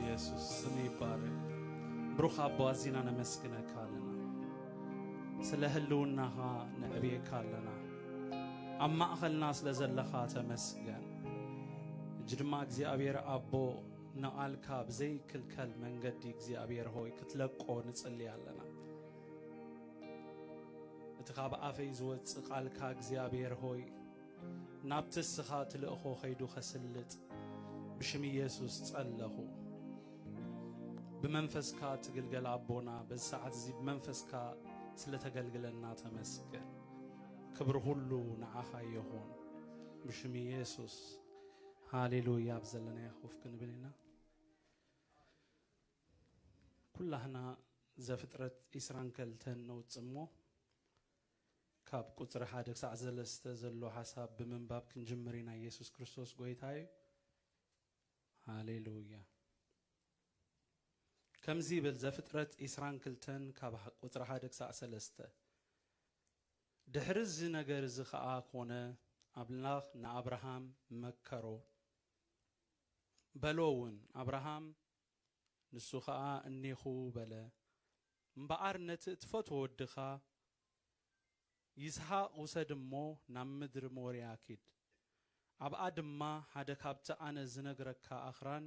ኢየሱስ ስም ይባረክ። ብሩኽ ኣቦ ኣዚና ነመስግነካ ኣለና ስለ ህልውናኻ ነዕብየካ ኣለና ኣብ ማእኸልና ስለ ዘለኻ ተመስገን እጅ ድማ እግዚኣብሔር ኣቦ ንቓልካ ብዘይክልከል መንገዲ እግዚኣብሔር ሆይ ክትለቆ ንጽሊ ኣለና እቲ ካብ ኣፈይ ዝወፅእ ቃልካ እግዚኣብሔር ሆይ ናብቲ እስኻ ትልእኾ ኸይዱ ኸስልጥ ብሽም ኢየሱስ ጸለኹ። ብመንፈስካ ትግልገል ኣቦና በዚ ሰዓት እዚ ብመንፈስካ ስለተገልግለና ተመስገን። ክብሪ ሁሉ ንዓኻ ይኹን ብሽም ኢየሱስ ሃሌሉያ። ኣብ ዘለናዮ ኮፍ ክንብል ኢና። ኩላህና ዘፍጥረት ኢስራን ከልተን ነውጽእ እሞ ካብ ቁጽሪ ሓደ ክሳዕ ዘለስተ ዘሎ ሓሳብ ብምንባብ ክንጅምር ኢና ኢየሱስ ክርስቶስ ጎይታ እዩ ሃሌሉያ ከምዚ ይብል ዘፍጥረት ኢስራን ክልተን ካብ ቁጽሪ ሓደ ክሳዕ ሰለስተ ድሕሪ እዚ ነገር እዚ ኸኣ ኮነ ኣምላኽ ንኣብርሃም መከሮ በሎ እውን ኣብርሃም ንሱ ኸኣ እኔኹ በለ እምበኣር ነቲ እትፈትዎ ወድኻ ይስሃቅ ውሰድ እሞ ናብ ምድሪ ሞርያ ኪድ። ኣብኣ ድማ ሓደ ካብቲ ኣነ ዝነግረካ ኣኽራን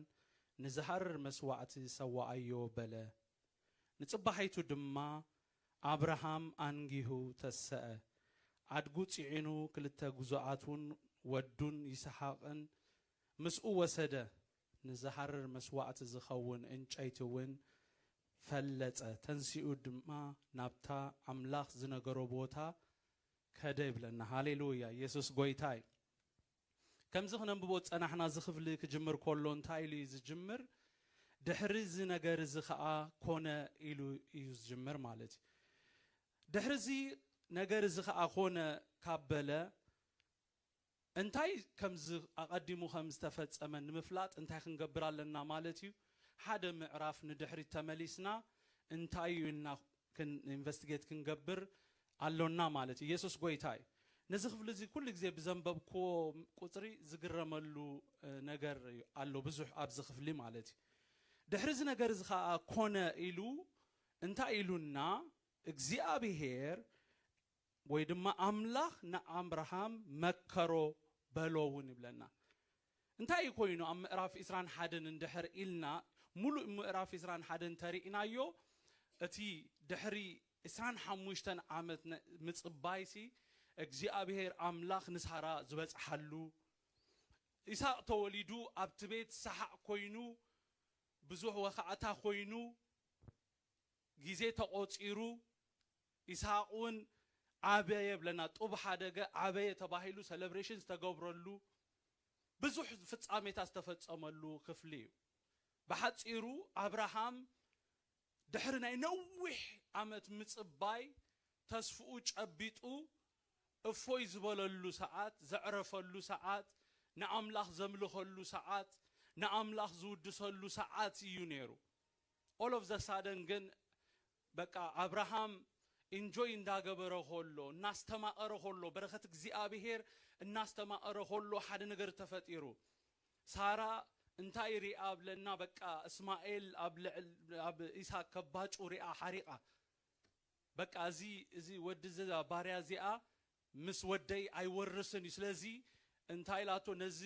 ንዝሃርር መስዋእቲ ሰዋኣዮ በለ። ንጽባሒቱ ድማ ኣብርሃም ኣንጊሁ ተሰኣ፣ ኣድጉ ጽዒኑ ክልተ ግዙኣቱን ወዱን ይስሃቅን ምስኡ ወሰደ፣ ንዝሃርር መስዋእቲ ዚኸውን እንጨይቲ እውን ፈለጸ፣ ተንሲኡ ድማ ናብታ ኣምላኽ ዝነገሮ ቦታ ከደ ይብለና። ሃሌሉያ! የሱስ ጎይታ እዩ። ከምዚ ክነንብቦ ዝጸናሕና እዚ ክፍሊ ክጅምር ከሎ እንታይ ኢሉ እዩ ዝጅምር? ድሕሪ እዚ ነገር እዚ ከኣ ኮነ ኢሉ እዩ ዝጅምር ማለት እዩ። ድሕሪ እዚ ነገር እዚ ከኣ ኮነ ካብ በለ፣ እንታይ ከም ዝ ኣቐዲሙ ከም ዝተፈጸመ ንምፍላጥ እንታይ ክንገብር ኣለና ማለት እዩ? ሓደ ምዕራፍ ንድሕሪት ተመሊስና እንታይ እዩ ኢልና ክን ኢንቨስቲጌት ክንገብር ኣሎና ማለት እዩ። የሱስ ጐይታ እዩ። ነዚ ክፍሊ እዚ ኩሉ ግዜ ብዘንበብክዎ ቍጽሪ ዝግረመሉ ነገር ኣሎ ብዙሕ ኣብዚ ክፍሊ ማለት እዩ። ድሕሪ እዚ ነገር እዚ ኸኣ ኰነ ኢሉ እንታይ ኢሉና እግዚኣብሄር ወይ ድማ ኣምላኽ ንኣብርሃም መከሮ በሎ እውን ይብለና። እንታይ እዩ ኮይኑ ኣብ ምዕራፍ ዕስራን ሓደን እንድሕር ኢልና ሙሉእ ምዕራፍ ዕስራን ሓደን እንተሪእናዮ እቲ ድሕሪ ዕስራን ሓሙሽተን ዓመት ምፅባይሲ እግዚኣብሄር ኣምላኽ ንሳራ ዝበፅሓሉ ኢሳቅ ተወሊዱ ኣብቲ ቤት ሳሓቅ ኮይኑ ብዙሕ ወኻዕታ ኮይኑ ግዜ ተቆፂሩ ኢስሃቅ ውን ዓበየ ብለና ጡብ ሓደገ ዓበየ ተባሂሉ ሰለብሬሽን ዝተገብረሉ ብዙሕ ፍጻሜታት ዝተፈጸመሉ ክፍሊ እዩ። ብሓጺሩ ኣብርሃም ድሕሪ ናይ ነዊሕ ዓመት ምጽባይ ተስፍኡ ጨቢጡ እፎይ ዝበለሉ ሰዓት፣ ዘዕረፈሉ ሰዓት፣ ንኣምላኽ ዘምልኸሉ ሰዓት፣ ንኣምላኽ ዝውድሰሉ ሰዓት እዩ ኔሩ። ኦል ኦፍ ዘ ሳደን ግን በቃ ኣብርሃም ኢንጆይ እንዳገበረ ኾሎ እናስተማቐረ ኾሎ በረኸት እግዚኣብሄር እናስተማቐረ ኾሎ ሓደ ነገር ተፈጢሩ ሳራ እንታይ ሪኣ ብለና በቃ እስማኤል ኣብ ልዕል ኣብ ኢሳቅ ከባጩ ሪኣ ሓሪቓ በቃ እዚ እዚ ወዲ እዚ ባርያ እዚኣ ምስ ወደይ ኣይወርስን እዩ ስለዚ እንታይ ኢላቶ ነዚ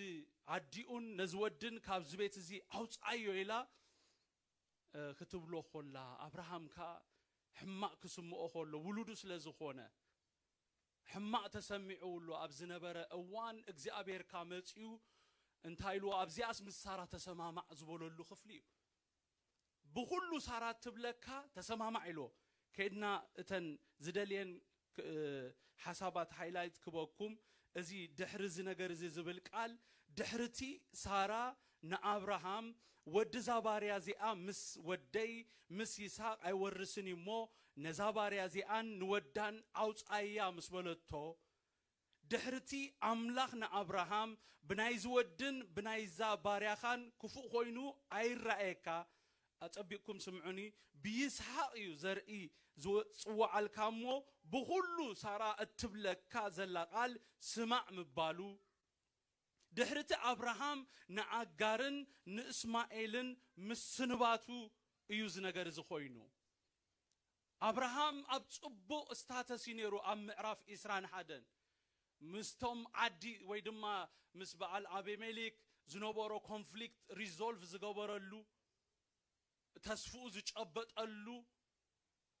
ዓዲኡን ነዚ ወድን ካብዚ ቤት እዚ ኣውጻዮ ኢላ ክትብሎ ኾላ፣ ኣብርሃም ከኣ ሕማቕ ክስምኦ ኸሎ፣ ውሉዱ ስለ ዝኾነ ሕማቕ ተሰሚዕውሉ ኣብ ዝነበረ እዋን፣ እግዚኣብሄር ከኣ መጺኡ እንታይ ኢልዎ፣ ኣብዚኣስ ምስ ሳራ ተሰማማዕ ዝበለሉ ክፍሊ እዩ። ብኹሉ ሳራ እትብለካ ተሰማማዕ ኢልዎ፣ ከይድና እተን ዝደልየን ሓሳባት ሃይላይት ክበኩም እዚ ድሕሪ እዚ ነገር እዚ ዝብል ቃል ድሕሪ እቲ ሳራ ንኣብርሃም ወዲ እዛ ባርያ እዚኣ ምስ ወደይ ምስ ይስሃቅ ኣይወርስን እዩ እሞ ነዛ ባርያ እዚኣን ንወዳን ኣውጻያ ምስ በለቶ ድሕርቲ ኣምላኽ ንኣብርሃም፣ ብናይዚ ወድን ብናይዛ ባርያኻን ክፉእ ዀይኑ ኣይራኣየካ፣ ኣጸቢቕኩም ስምዑኒ፣ ብይስሃቅ እዩ ዘርኢ ዝጽውዓልካ እሞ፣ ብኹሉ ሳራ እትብለካ ዘላ ቓል ስማዕ ምባሉ፣ ድሕርቲ ኣብርሃም ንኣጋርን ንእስማኤልን ምስንባቱ እዩ እዚ ነገር እዚ ዀይኑ። ኣብርሃም ኣብ ጽቡቕ ስታተስ እዩ ነይሩ ኣብ ምዕራፍ ዕስራን ሓደን ምስቶም ዓዲ ወይ ድማ ምስ በኣል ኣቤሜሌክ ዝነበሮ ኮንፍሊክት ሪዞልቭ ዝገበረሉ ተስፍኡ ዝጨበጠሉ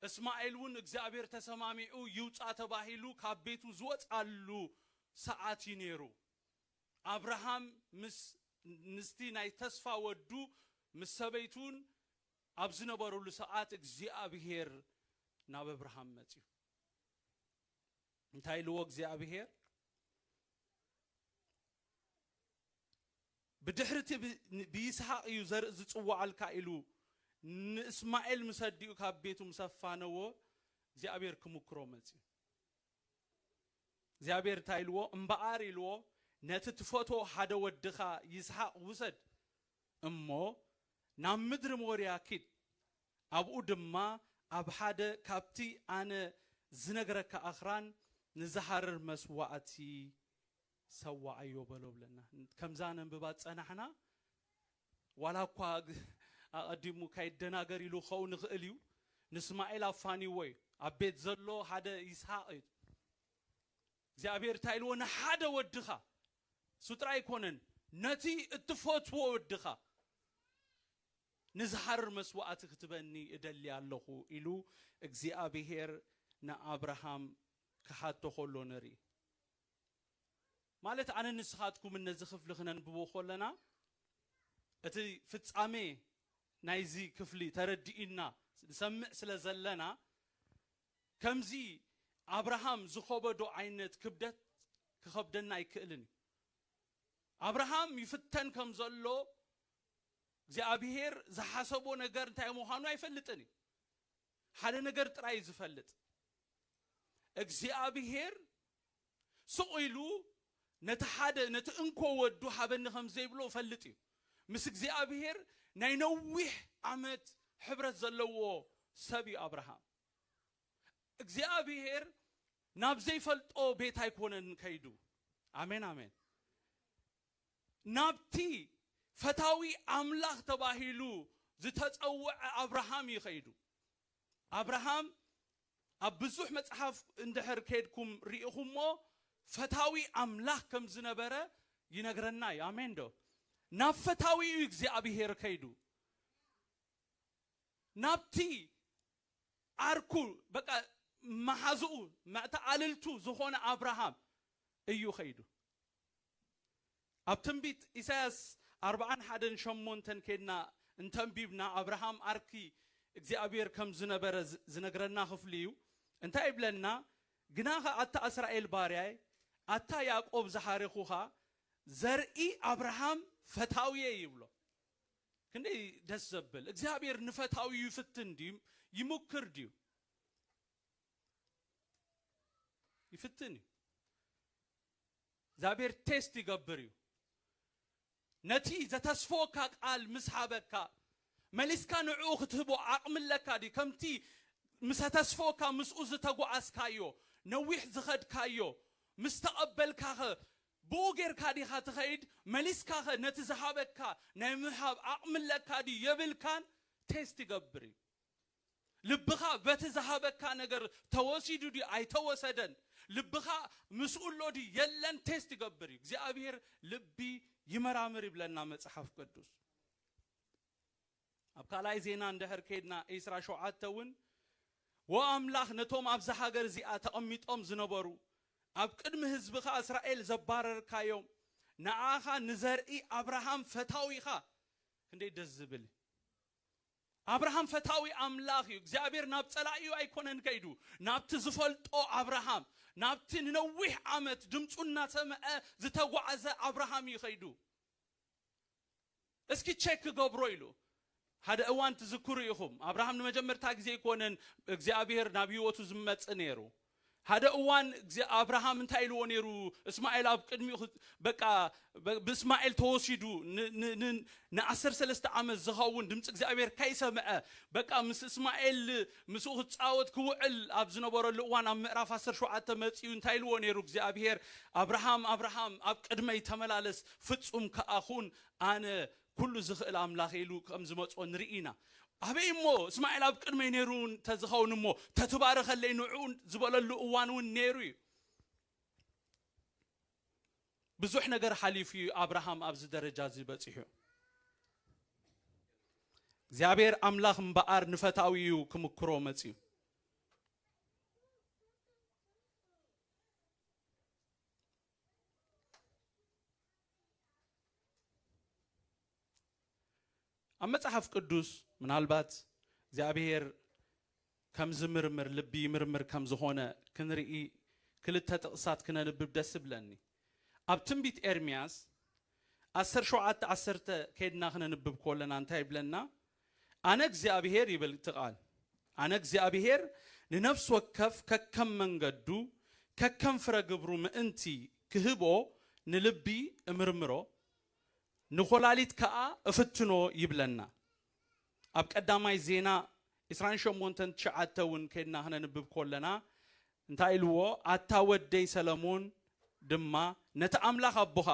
እስማኤል ውን እግዚኣብሔር ተሰማሚዑ ይውጻእ ተባሂሉ ካብ ቤቱ ዝወጽኣሉ ሰዓት እዩ ነይሩ ኣብርሃም ምስ ንስቲ ናይ ተስፋ ወዱ ምስ ሰበይቱን ኣብ ዝነበሩሉ ሰዓት እግዚኣብሄር ናብ ኣብርሃም መጺኡ እንታይ ኢልዎ እግዚኣብሄር ብድሕሪ እቲ ብይስሃቅ እዩ ዘርኢ ዝጽዋዓልካ ኢሉ ንእስማኤል ምስ ኣዲኡ ካብ ቤቱ ምስ ኣፋነዎ እግዚኣብሄር ክምክሮ መጺኡ እግዚኣብሄር እንታይ ኢልዎ እምበኣር ኢልዎ ነቲ ትፈትዎ ሓደ ወድኻ ይስሃቅ ውሰድ እሞ ናብ ምድሪ ሞርያ ኪድ፣ ኣብኡ ድማ ኣብ ሓደ ካብቲ ኣነ ዝነግረካ ኣኽራን ንዝሃርር መስዋእቲ ሰዋኣዮ በሎ ብለና። ከምዛ ነንብባ ዝጸናሕና ዋላ እኳ ኣቐዲሙ ካይደናገር ኢሉ ክኸውን ይኽእል እዩ፣ ንስማኤል ኣፋኒዎ እዩ። ኣብ ቤት ዘሎ ሓደ ይስሃቅ እዩ። እግዚኣብሄር እንታይ ኢልዎ ንሓደ ወድኻ እሱ ጥራይ ኣይኮነን ነቲ እትፈትዎ ወድኻ ንዝሃርር መስዋእቲ ክትበኒ እደሊ ኣለኹ ኢሉ እግዚኣብሄር ንኣብርሃም ክሓቶ ከሎ ንርኢ። ማለት ኣነን ንስኻትኩምን ነዚ ክፍሊ ክነንብቦ ከለና እቲ ፍጻሜ ናይዚ ክፍሊ ተረዲኡና ንሰምዕ ስለ ዘለና ከምዚ ኣብርሃም ዝኸበዶ ዓይነት ክብደት ክኸብደና ኣይክእልን እዩ። ኣብርሃም ይፍተን ከም ዘሎ እግዚኣብሄር ዝሓሰቦ ነገር እንታይ ምዃኑ ኣይፈልጥን እዩ። ሓደ ነገር ጥራይ እዩ ዝፈልጥ፣ እግዚኣብሄር ስቕ ኢሉ ነቲ ሓደ ነቲ እንኮ ወዱ ሃበኒ ከም ዘይብሎ እፈልጥ እዩ። ምስ እግዚኣብሄር ናይ ነዊሕ ዓመት ሕብረት ዘለዎ ሰብ እዩ ኣብርሃም። እግዚኣብሄር ናብ ዘይፈልጦ ቤት ኣይኮነን ከይዱ። ኣሜን ኣሜን። ናብቲ ፈታዊ ኣምላኽ ተባሂሉ ዝተጸውዐ ኣብርሃም እዩ ከይዱ። ኣብርሃም ኣብ ብዙሕ መጽሓፍ እንድሕር ኬድኩም ርኢኹሞ ፈታዊ ኣምላኽ ከም ዝነበረ ይነግረና እዩ ኣሜን ዶ ናብ ፈታዊ እዩ እግዚኣብሄር ከይዱ ናብቲ ዓርኩ በቃ መሓዝኡ መዕተኣልልቱ ዝኾነ ኣብርሃም እዩ ከይዱ ኣብ ትንቢት ኢሳያስ ኣርብዓን ሓደን ሸሞንተን ኬድና እንተ ኣንቢብና ኣብርሃም ኣርኪ እግዚኣብሔር ከም ዝነበረ ዝነግረና ክፍሊ እዩ እንታይ ይብለና ግናኸ ኣታ እስራኤል ባርያይ ኣታ ያእቆብ ዝሓሬኹኻ ዘርኢ ኣብርሃም ፈታውየይ ይብሎ ክንደይ ደስ ዘብል እግዚኣብሔር ንፈታውዩ ይፍትን ድዩ ይሙክር ድዩ ይፍትን እዩ እግዚኣብሔር ቴስት ይገብር እዩ ነቲ ዘተስፈወካ ቃል ምስ ሃበካ መሊስካ ንዕኡ ክትህቦ ዓቕሚ ኣለካ ድዩ ከምቲ ምስ ኣተስፈወካ ምስኡ ዝተጓዓዝካዮ ነዊሕ ዝኸድካዮ ምስ ተቐበልካኸ ብኡ ጌርካ ዲኻ ትኸይድ መሊስካኸ ነቲ ዝሃበካ ናይ ምሃብ ዓቕሚ ኣለካ ድዩ የብልካን ቴስት ይገብር እዩ ልብኻ በቲ ዝሃበካ ነገር ተወሲዱ ድዩ ኣይተወሰደን ልብኻ ምስኡ ኣሎ ድዩ የለን ቴስት ይገብር እዩ እግዚኣብሔር ልቢ ይመራምር ይብለና መጽሓፍ ቅዱስ ኣብ ካልኣይ ዜና እንድሕር ከይድና ዒስራ ሸውዓተ እውን ወኣምላኽ ነቶም ኣብዚ ሃገር እዚኣ ተቐሚጦም ዝነበሩ ኣብ ቅድሚ ህዝብኻ እስራኤል ዘባረርካዮም ንዓኻ ንዘርኢ ኣብርሃም ፈታዊኻ ክንደይ ደስ ዝብል ኣብርሃም ፈታዊ ኣምላኽ እዩ። እግዚኣብሔር ናብ ጸላኢኡ ኣይኮነን ከይዱ፣ ናብቲ ዝፈልጦ ኣብርሃም፣ ናብቲ ንነዊሕ ዓመት ድምጹ እናሰምዐ ዝተጓዕዘ ኣብርሃም እዩ ከይዱ። እስኪ ቸክ ክገብሮ ኢሉ። ሓደ እዋን ትዝክሩ ኢኹም፣ ኣብርሃም ንመጀመርታ ግዜ ኣይኮነን እግዚኣብሔር ናብ ህይወቱ ዝመጽእ ነይሩ። ሓደ እዋን እግዚ ኣብርሃም እንታይ ኢልዎ ነይሩ እስማኤል ኣብ ቅድሚኡ ክ በቃ በ ብእስማኤል ተወሲዱ ን ን ን ንዓሰርተ ሰለስተ ዓመት ዝኸውን ድምጺ እግዚኣብሄር ከይሰምዐ በቃ ምስ እስማኤል ምስኡ ክጻወት ክውዕል ኣብ ዝነበረሉ እዋን ኣብ ምዕራፍ ዓሰርተ ሸውዓተ መጺኡ እንታይ ኢልዎ ነይሩ እግዚኣብሄር ኣብርሃም ኣብርሃም ኣብ ቅድመይ ተመላለስ ፍጹም ከኣ ኹን ኣነ ኩሉ ዝኽእል ኣምላኽ ኢሉ ከም ዝመጾ ንርኢ ኢና። ኣበይ እሞ እስማኤል ኣብ ቅድመይ ነይሩ እንተ ዝኸውን እሞ ተትባርኸለይ ንዕኡ ዝበለሉ እዋን እውን ነይሩ እዩ። ብዙሕ ነገር ሓሊፉ እዩ ኣብርሃም ኣብዚ ደረጃ እዚ በጺሑ። እግዚኣብሔር ኣምላኽ እምበኣር ንፈታዊ እዩ ክምክሮ መጺኡ። ኣብ መጽሓፍ ቅዱስ ምናልባት እግዚኣብሄር ከም ዝምርምር ልቢ ይምርምር ከም ዝኾነ ክንርኢ ክልተ ጥቕሳት ክነንብብ ደስ ብለኒ ኣብ ትንቢት ኤርምያስ ዓሰርተ ሸውዓተ ዓሰርተ ከድና ክነንብብ ከለና እንታይ ይብለና ኣነ እግዚኣብሄር ይብል እቲ ቓል፣ ኣነ እግዚኣብሄር ንነፍሲ ወከፍ ከከም መንገዱ፣ ከከም ፍረ ግብሩ ምእንቲ ክህቦ፣ ንልቢ እምርምሮ፣ ንኮላሊት ከኣ እፍትኖ ይብለና። ኣብ ቀዳማይ ዜና ዕስራን ሸሞንተን ትሽዓተ እውን ከድና ክነንብብ ኮለና እንታይ ኢልዎ፣ ኣታ ወደይ ሰለሙን ድማ ነቲ ኣምላኽ ኣቦኻ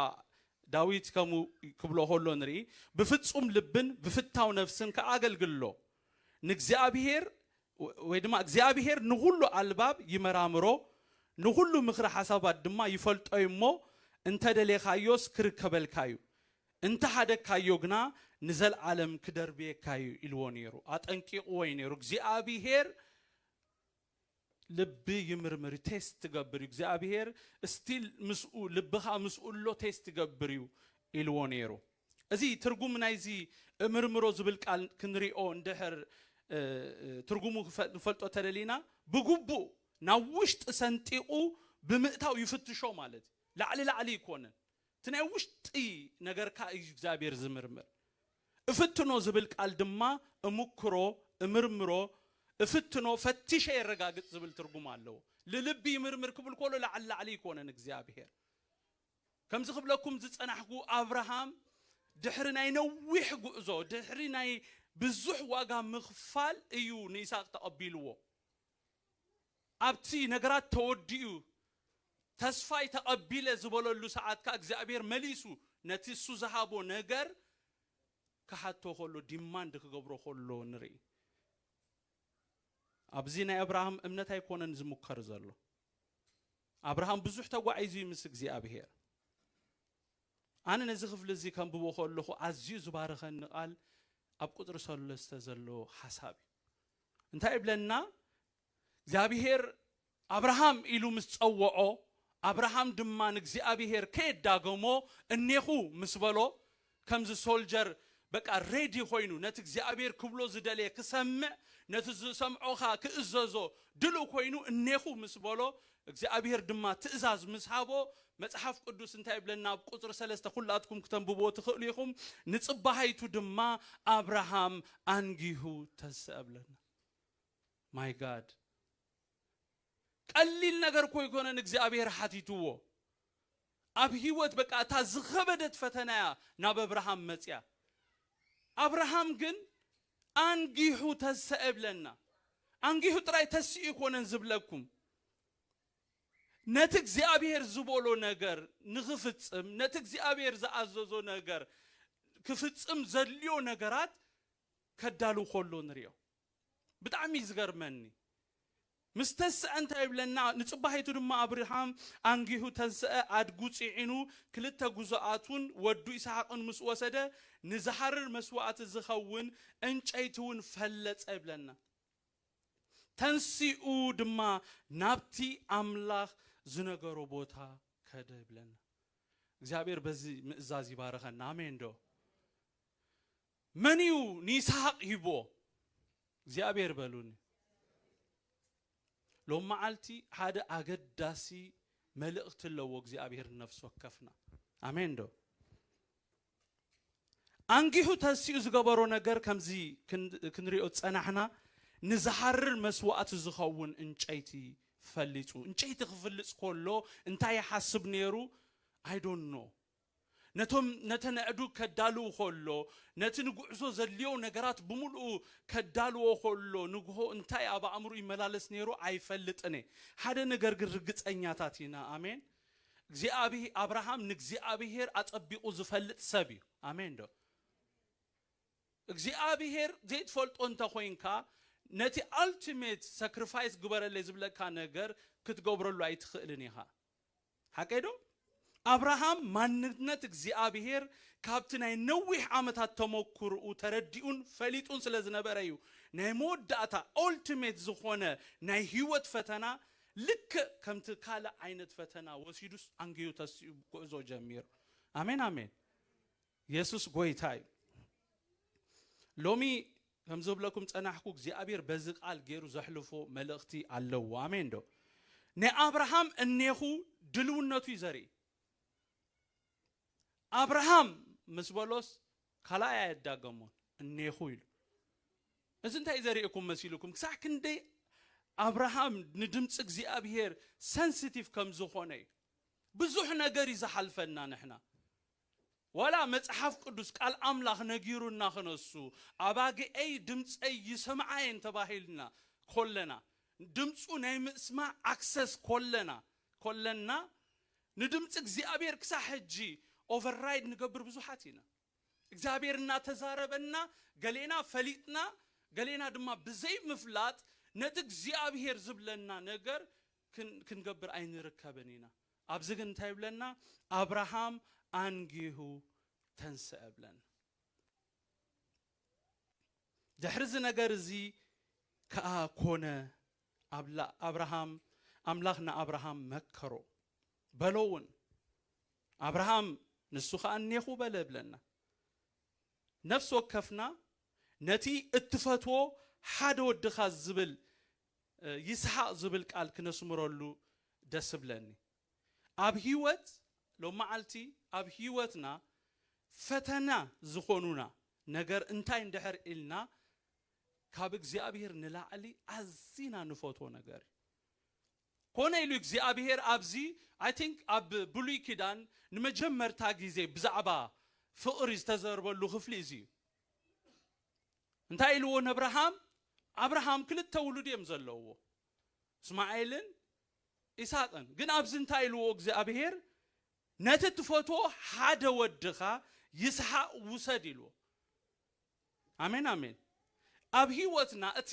ዳዊት ከምኡ ክብሎ ከሎ ንርኢ፣ ብፍጹም ልብን ብፍታው ነፍስን ከኣ ኣገልግሎ፣ ንእግዚኣብሄር ወይ ድማ እግዚኣብሄር ንኹሉ ኣልባብ ይመራምሮ፣ ንኹሉ ምኽሪ ሓሳባት ድማ ይፈልጦ እዩ እሞ፣ እንተ ደሌኻዮስ ክርከበልካ እዩ፣ እንተ ሓደግካዮ ግና ንዘልኣለም ክደርብየካ እዩ ኢልዎ ነይሩ፣ ኣጠንቂቕዎ እዩ ነይሩ፣ እግዚኣብሄር ልቢ ይምርምር እዩ ቴስት ትገብር እዩ እግዚኣብሄር ስቲል ምስኡ ልብኻ ምስኡ ኣሎ ቴስት ይገብር እዩ ኢልዎ ነይሩ እዚ ትርጉም ናይዚ እምርምሮ ዝብል ቃል ክንሪኦ እንድሕር ትርጉሙ ንፈልጦ ተደሊና ብግቡእ ናብ ውሽጢ ሰንጢቑ ብምእታው ይፍትሾ ማለት እዩ ላዕሊ ላዕሊ ይኮንን እቲ ናይ ውሽጢ ነገርካ እዩ እግዚኣብሔር ዝምርምር። እፍትኖ ዝብል ቃል ድማ እምክሮ፣ እምርምሮ፣ እፍትኖ፣ ፈትሸ የረጋግፅ ዝብል ትርጉም ኣለዎ። ልልቢ ይምርምር ክብል ኮሎ ላዕሊ ላዕሊ ኣይኮነን እግዚኣብሔር። ከምዚ ክብለኩም ዝፀናሕኩ ኣብርሃም ድሕሪ ናይ ነዊሕ ጉዕዞ ድሕሪ ናይ ብዙሕ ዋጋ ምኽፋል እዩ ንይስሃቅ ተቐቢልዎ። ኣብቲ ነገራት ተወዲኡ ተስፋይ ተቐቢለ ዝበለሉ ሰዓት ከኣ እግዚኣብሔር መሊሱ ነቲ እሱ ዝሃቦ ነገር ክሓቶ ከሎ ዲማንድ ክገብሮ ከሎ ንርኢ። ኣብዚ ናይ ኣብርሃም እምነት ኣይኮነን ዝሙከር ዘሎ። ኣብርሃም ብዙሕ ተጓዒዙ እዩ ምስ እግዚኣብሔር። ኣነ ነዚ ክፍሊ እዚ ከንብቦ ከለኹ ኣዝዩ ዝባረኸኒ ቃል ኣብ ቁፅሪ ሰለስተ ዘሎ ሓሳብ እዩ። እንታይ ይብለና እግዚኣብሄር ኣብርሃም ኢሉ ምስ ጸወዖ ኣብርሃም ድማ ንእግዚኣብሄር ከየዳገሞ እኔኹ ምስ በሎ ከምዚ ሶልጀር በቃ ሬዲ ኮይኑ ነቲ እግዚኣብሄር ክብሎ ዝደለየ ክሰምዕ ነቲ ዝሰምዖ ኸኣ ክእዘዞ ድልው ኮይኑ እኔኹ ምስ በሎ እግዚኣብሄር ድማ ትእዛዝ ምስ ሃቦ፣ መጽሓፍ ቅዱስ እንታይ ይብለና ኣብ ቁጽሪ ሰለስተ ኩላትኩም ክተንብብዎ ትኽእሉ ኢኹም፣ ንጽባሃይቱ ድማ ኣብርሃም ኣንጊሁ ተንስኣ እብለና። ማይ ጋድ! ቀሊል ነገር እኮ ኣይኮነን እግዚኣብሄር ሓቲትዎ። ኣብ ሂወት በቃ እታ ዝኸበደት ፈተና እያ ናብ ኣብርሃም መጽያ ኣብርሃም ግን ኣንጊሁ ተሰኤ እብለና ኣንጊሁ ጥራይ ተሲኡ ኣይኮነን ዝብለኩም ነቲ እግዚኣብሄር ዝቦሎ ነገር ንኽፍጽም ነቲ እግዚኣብሄር ዝኣዘዞ ነገር ክፍጽም ዘድልዮ ነገራት ከዳሉ ኮሎ ንሪኦ። ብጣዕሚ ዝገርመኒ ምስ ተስዐ እንታይ ይብለና ንጽባሒቱ ድማ ኣብርሃም ኣንጊሁ ተንስዐ ኣድጉ ጺዒኑ ክልተ ጉዞኣቱን ወዱ ኢሳሓቅን ምስ ወሰደ ንዝሃርር መስዋእቲ ዝኸውን እንጨይቲ ውን ፈለጸ ይብለና ተንሲኡ ድማ ናብቲ ኣምላኽ ዝነገሮ ቦታ ከደ ይብለና እግዚኣብሔር በዚ ምእዛዝ ይባርኸና ኣሜን ዶ። መን እዩ ንይስሃቅ ሂብዎ እግዚኣብሔር በሉኒ። ሎም መዓልቲ ሓደ ኣገዳሲ መልእክቲ ኣለዎ እግዚኣብሔር ንነፍሲ ወከፍና ኣሜን ዶ ኣንጊሁ ተሲኡ ዝገበሮ ነገር ከምዚ ክንሪኦ ዝፀናሕና ንዝሃርር መስዋእቲ ዝኸውን እንጨይቲ ፈሊፁ እንጨይቲ ክፍልፅ ከሎ እንታይ ይሓስብ ነይሩ ኣይዶኖ ነቶም ነተን ኣእዱግ ከዳልው ከሎ፣ ነቲ ንጉዕዞ ዘድልዮ ነገራት ብምሉኡ ከዳልዎ ከሎ፣ ንግሆ እንታይ ኣብ ኣእምርኡ ይመላለስ ነይሩ ኣይፈልጥን እየ። ሓደ ነገር ግን ርግጸኛታት ኢና። ኣሜን። እግዚኣብሄ፣ ኣብርሃም ንእግዚኣብሄር ኣጸቢቑ ዝፈልጥ ሰብ እዩ። ኣሜንዶ? እግዚኣብሄር ዘይትፈልጦ እንተ ኾይንካ፣ ነቲ ኣልቲሜት ሰክሪፋይስ ግበረለይ ዝብለካ ነገር ክትገብረሉ ኣይትኽእልን ኢኻ። ሓቀይ ዶ? ኣብርሃም ማንነት እግዚኣብሄር ካብቲ ናይ ነዊሕ ዓመታት ተመኩርኡ ተረዲኡን ፈሊጡን ስለ ዝነበረ እዩ ናይ መወዳእታ Ultimate ዝኾነ ናይ ህይወት ፈተና ልክእ ከምቲ ካልእ ዓይነት ፈተና ወሲዱስ ኣንጊሁ ተሲኡ ጉዕዞ ጀሚሩ ኣሜን ኣሜን የሱስ ጎይታ እዩ ሎሚ ከም ዝብለኩም ጸናሕኩ እግዚኣብሔር በዚ ቃል ገይሩ ዘሕልፎ መልእኽቲ ኣለዎ ኣሜን ዶ ንኣብርሃም እኔኹ ድልውነቱ እዩ ዘርኢ ኣብርሃም ምስ በሎስ ካልኣይ ኣየዳገሞን እኔኹ ኢሉ እዚ እንታይ ዘርእኩም መሲልኩም ክሳዕ ክንደይ ኣብርሃም ንድምፂ እግዚኣብሄር ሰንሲቲቭ ከም ዝኾነ እዩ ብዙሕ ነገር እዩ ዝሓልፈና ንሕና ዋላ መጽሓፍ ቅዱስ ቃል ኣምላኽ ነጊሩና ክነሱ ኣባግኤይ ድምጸይ ይሰምዓ እየን ተባሂልና ኮለና ድምጹ ናይ ምስማዕ ኣክሰስ ኮለና ኮለና ንድምጺ እግዚኣብሔር ክሳዕ ሕጂ ኦቨር ራይድ ንገብር ብዙሓት ኢና እግዚኣብሔር እናተዛረበና ገሌና ፈሊጥና ገሌና ድማ ብዘይ ምፍላጥ ነቲ እግዚኣብሔር ዝብለና ነገር ክንገብር ኣይንርከብን ኢና ኣብዚ ግን እንታይ ይብለና ኣብርሃም ኣንጊሁ ተንስኣ ብለና። ድሕሪ እዚ ነገር እዚ ከኣ ኮነ ኣብርሃም ኣምላኽ ንኣብርሃም መከሮ በሎ እውን ኣብርሃም ንሱ ከኣ እኔኹ በለ ብለና። ነፍሲ ወከፍና ነቲ እትፈትዎ ሓደ ወድኻ ዝብል ይስሓቅ ዝብል ቃል ክነስምረሉ ደስ እብለኒ ኣብ ሂወት ሎማዓልቲ ኣብ ሂወትና ፈተና ዝኮኑና ነገር እንታይ እንድሕር ኢልና ካብ እግዚኣብሄር ንላዕሊ ኣዚና ንፈትዎ ነገር እዩ ኮነ ኢሉ እግዚኣብሄር ኣብዚ ኣይ ቲንክ ኣብ ብሉይ ኪዳን ንመጀመርታ ግዜ ብዛዕባ ፍቅሪ ዝተዘርበሉ ክፍሊ እዚ እዩ እንታይ ኢልዎ ነብርሃም ኣብርሃም ክልተ ውሉድ እዮም ዘለውዎ እስማኤልን ኢሳቅን ግን ኣብዚ እንታይ ኢልዎ እግዚኣብሄር ነቲ ትፈትዎ ሓደ ወድኻ ይስሓቅ ውሰድ ኢልዎ ኣሜን ኣሜን ኣብ ህይወትና እቲ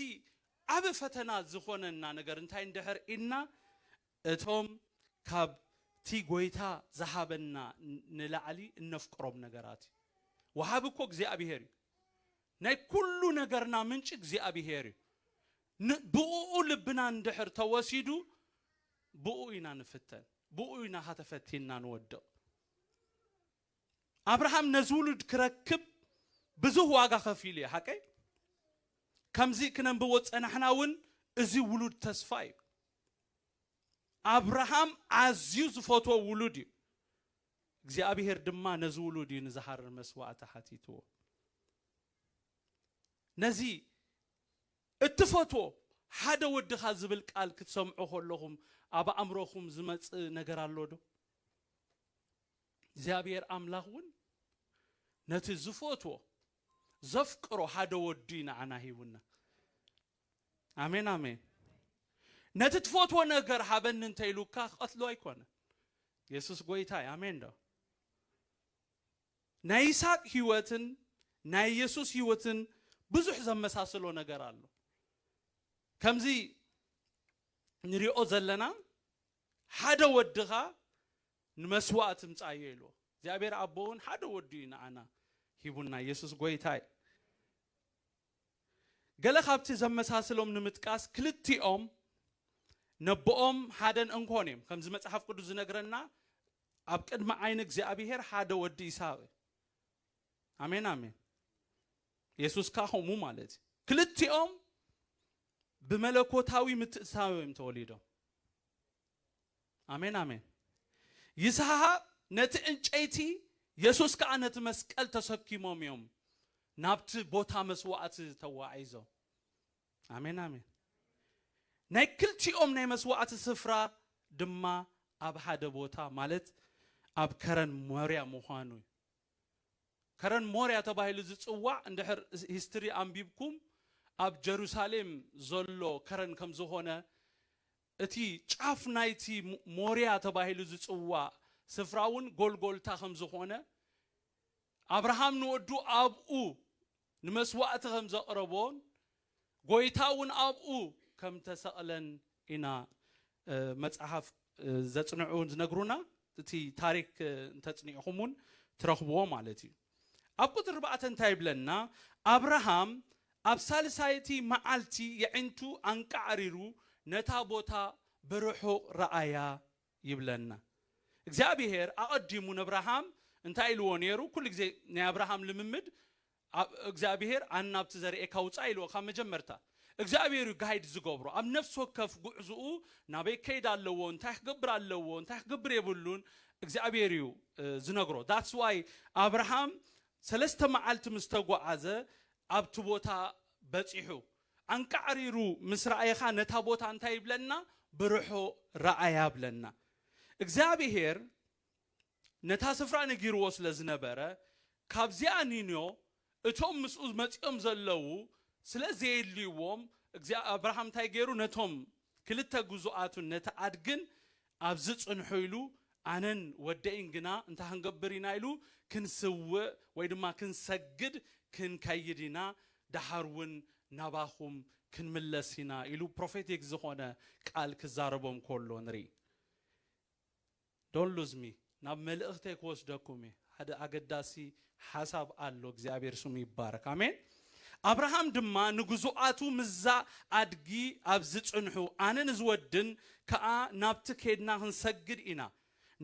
ዓብ ፈተና ዝኾነና ነገር እንታይ እንድሕር ኢልና እቶም ካብቲ ጐይታ ዝሃበና ንላዕሊ እነፍቅሮም ነገራት እዩ። ወሃቢ እኮ እግዚኣብሄር እዩ። ናይ ኩሉ ነገርና ምንጪ እግዚኣብሄር እዩ። ን ብእኡ ልብና እንድሕር ተወሲዱ ብእኡ ኢና ንፍተን፣ ብእኡ ኢና ኸኣ ተፈቲንና ንወድቕ። ኣብርሃም ነዚ ውሉድ ክረክብ ብዙህ ዋጋ ከፊሉ እዩ ሓቀይ ከምዚ ክነንብቦ ዝጸናሕና ውን እዚ ውሉድ ተስፋ እዩ ኣብርሃም ኣዝዩ ዝፈትዎ ውሉድ እዩ እግዚኣብሄር ድማ ነዚ ውሉድ እዩ ንዝሃርር መስዋእቲ ሓቲትዎ ነዚ እትፈትዎ ሓደ ወድኻ ዝብል ቃል ክትሰምዑ ከለኹም ኣብ ኣእምሮኹም ዝመጽእ ነገር ኣሎ ዶ እግዚኣብሄር ኣምላኽ እውን ነቲ ዝፈትዎ ዘፍቅሮ ሓደ ወዱ እዩ ንዓና ሂቡና ኣሜን ኣሜን ነቲ ትፈትዎ ነገር ሃበኒ እንተ ኢሉካ ክቐትሎ ኣይኮነን የሱስ ጎይታ እዩ ኣሜን ዶ ናይ ይስሐቅ ህይወትን ናይ የሱስ ህይወትን ብዙሕ ዘመሳስሎ ነገር ኣሎ ከምዚ ንሪኦ ዘለና ሓደ ወድኻ ንመስዋእ ትምጻዮ ኢልዎ እግዚኣብሔር ኣቦ ውን ሓደ ወዱ እዩ ንኣና ሂቡና የሱስ ጎይታ እዩ ገለ ካብቲ ዘመሳስሎም ንምጥቃስ ክልቲኦም ነቦኦም ሓደን እንኮን እዮም ከምዚ መጽሓፍ ቅዱስ ዝነግረና ኣብ ቅድሚ ዓይኒ እግዚኣብሔር ሓደ ወዲ ይስሃቅ እዩ ኣሜን ኣሜን የሱስ ከዓ ከምኡ ማለት እዩ ክልቲኦም ብመለኮታዊ ምትእትታው እዮም ተወሊዶም ኣሜን ኣሜን ይስሐቅ ነቲ ዕንጨይቲ የሱስ ከዓ ነቲ መስቀል ተሰኪሞም እዮም ናብቲ ቦታ መስዋእቲ ተዋዒዞም ኣሜን ኣሜን ናይ ክልቲኦም ናይ መስዋእቲ ስፍራ ድማ ኣብ ሓደ ቦታ ማለት ኣብ ከረን ሞርያ ምዃኑ እዩ ከረን ሞርያ ተባሂሉ ዝጽዋዕ እንድሕር ሂስትሪ ኣንቢብኩም ኣብ ጀሩሳሌም ዘሎ ከረን ከም ዝኾነ እቲ ጫፍ ናይቲ ሞርያ ተባሂሉ ዝጽዋዕ ስፍራ ውን ጎልጎልታ ከም ዝኾነ ኣብርሃም ንወዱ ኣብኡ ንመስዋእቲ ከም ዘቕረቦን ጐይታ እውን ኣብኡ ከም እተሰቕለን ኢና መጽሓፍ ዘጽንዑ ዝነግሩና፣ እቲ ታሪክ እንተጽኒዕኹም እውን ትረኽብዎ ማለት እዩ። ኣብ ቁጽሪ ኣርባዕተ እንታይ ይብለና፣ ኣብርሃም ኣብ ሳልሳይቲ መዓልቲ የዒንቱ ኣንቃዕሪሩ ነታ ቦታ ብርሑቕ ረኣያ ይብለና እግዚኣብሄር ኣቀዲሙ ነብራሃም እንታይ ኢልዎ ነሩ ኩሉ ግዜ ናይ ኣብራሃም ልምምድ እግዚኣብሄር ኣን ናብቲ ዘርእካ ውጻእ ኢልዎ ካብ መጀመርታ እግዚኣብሄር እዩ ጋይድ ዝገብሮ ኣብ ነፍሲ ወከፍ ጉዕዝኡ ናበይ ከይድ ኣለዎ እንታይ ክገብር ኣለዎ እንታይ ክገብር የብሉን እግዚኣብሄር እዩ ዝነግሮ ዳትስ ዋይ ኣብራሃም ሰለስተ መዓልቲ ምስ ተጓዓዘ ኣብቲ ቦታ በጺሑ ኣንቃዕሪሩ ምስ ረኣየኻ ነታ ቦታ እንታይ ይብለና ብርሖ ረኣያ ብለና እግዚኣብሄር ነታ ስፍራ ነጊርዎ ስለ ዝነበረ ካብዚኣ ኒንዮ እቶም ምስኡ መጺኦም ዘለዉ ስለ ዘየድልይዎም ኣብርሃም እንታይ ገይሩ ነቶም ክልተ ግዙኣቱን ነቲ ኣድግን ኣብዚ ጽንሑ ኢሉ ኣነን ወደይን ግና እንታይ ክንገብር ኢና ኢሉ ክንስውእ ወይ ድማ ክንሰግድ ክንከይድ ኢና ደሓር ውን ናባኹም ክንምለስ ኢና ኢሉ ፕሮፌቲክ ዝኾነ ቃል ክዛረቦም ኮሎ ንርኢ Don't lose me ናብ መልእኽተይ ክወስደኩም እየ ሓደ ኣገዳሲ ሓሳብ ኣሎ እግዚኣብሔር ስሙ ይባረክ ኣሜን ኣብርሃም ድማ ንግዙኣቱ ምዛ ኣድጊ ኣብዚ ፅንሑ ኣነ ንዝወድን ከኣ ናብቲ ኬድና ክንሰግድ ኢና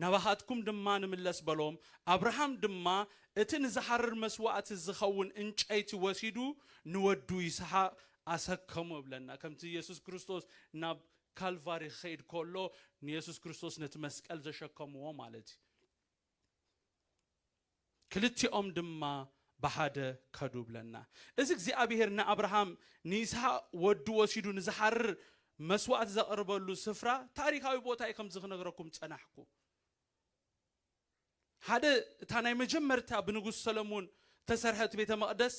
ናባኻትኩም ድማ ንምለስ በሎም ኣብርሃም ድማ እቲ ንዝሓርር መስዋእቲ ዝኸውን እንጨይቲ ወሲዱ ንወዱ ይስሓቅ ኣሰከሞ ይብለና ከምቲ የሱስ ክርስቶስ ናብ ካልቫሪ ክኸይድ ከሎ ንየሱስ ክርስቶስ ነቲ መስቀል ዘሸከምዎ ማለት እዩ። ክልቲኦም ድማ ብሓደ ከዱ ብለና። እዚ እግዚኣብሄር ንኣብርሃም ንይስሃቅ ወዱ ወሲዱ ንዝሓርር መስዋእቲ ዘቅርበሉ ስፍራ ታሪካዊ ቦታ እዩ ከምዚ ክነግረኩም ጸናሕኩ። ሓደ እታ ናይ መጀመርታ ብንጉስ ሰለሙን እተሰርሐት ቤተ መቕደስ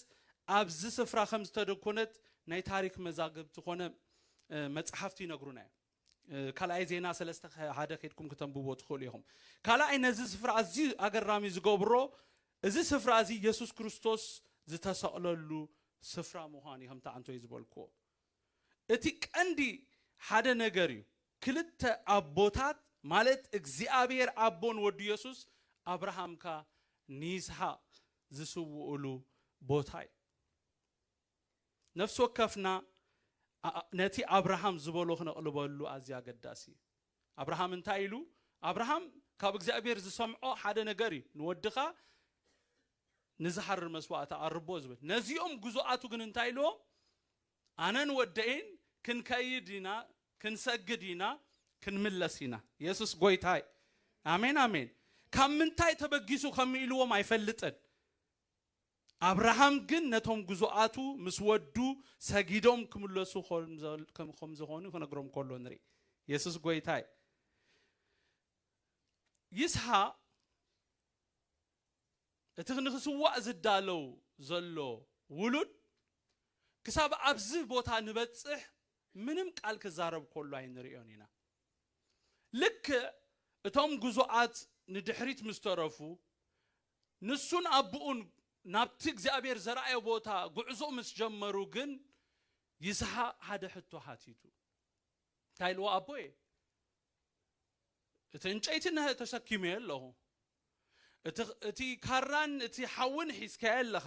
ኣብዚ ስፍራ ከም ዝተደኮነት ናይ ታሪክ መዛግብቲ ኮነ መጽሓፍቲ ይነግሩና እዮም። ካልኣይ ዜና ሰለስተ ሓደ ከድኩም ክተንብቦ ትኽእሉ ኢኹም ካልኣይ ነዚ ስፍራ ኣዝዩ ኣገራሚ ዝገብሮ እዚ ስፍራ እዚ የሱስ ክርስቶስ ዝተሰቕለሉ ስፍራ ምዃን እዩ ከምቲ ኣንቶይ ዝበልክዎ እቲ ቀንዲ ሓደ ነገር እዩ ክልተ ኣቦታት ማለት እግዚኣብሔር ኣቦን ወዱ የሱስ ኣብርሃምካ ንይስሃቅ ዝስውኡሉ ቦታ እዩ ነፍሲ ወከፍና ነቲ ኣብርሃም ዝበሎ ክነቕልበሉ ኣዝዩ ኣገዳሲ እዩ ኣብርሃም እንታይ ኢሉ ኣብርሃም ካብ እግዚኣብሔር ዝሰምዖ ሓደ ነገር እዩ ንወድኻ ንዝሓሪ መስዋእቲ ኣርቦ ዝብል ነዚኦም ግዙኣቱ ግን እንታይ ኢልዎም ኣነን ወደይን ክንከይድ ኢና ክንሰግድ ኢና ክንምለስ ኢና የሱስ ጎይታ እዩ ኣሜን ኣሜን ካብ ምንታይ ተበጊሱ ከም ኢልዎም ኣይፈልጥን ኣብርሃም ግን ነቶም ግዙኣቱ ምስ ወዱ ሰጊዶም ክምለሱ ከም ዝኾኑ ክነግሮም ከሎ ንርኢ የሱስ ጎይታ እዩ ይስሓቅ እቲ ንኽስዋእ ዝዳለው ዘሎ ውሉድ ክሳብ ኣብዚ ቦታ ንበጽሕ ምንም ቃል ክዛረብ ከሎ ኣይንርእዮን ኢና። ልክዕ እቶም ግዙኣት ንድሕሪት ምስ ተረፉ፣ ንሱን ኣቡኡን ናብቲ እግዚኣብሄር ዘርኣዮ ቦታ ጉዕዞ ምስ ጀመሩ ግን ይስሃቅ ሓደ ሕቶ ሓቲቱ። እንታይ ኢልዎ ኣቦየ እቲ እንጨይቲ ተሰኪመዮ ኣለኹ እቲ ካራን እቲ ሓውን ሒዝካዮ ኣለኻ፣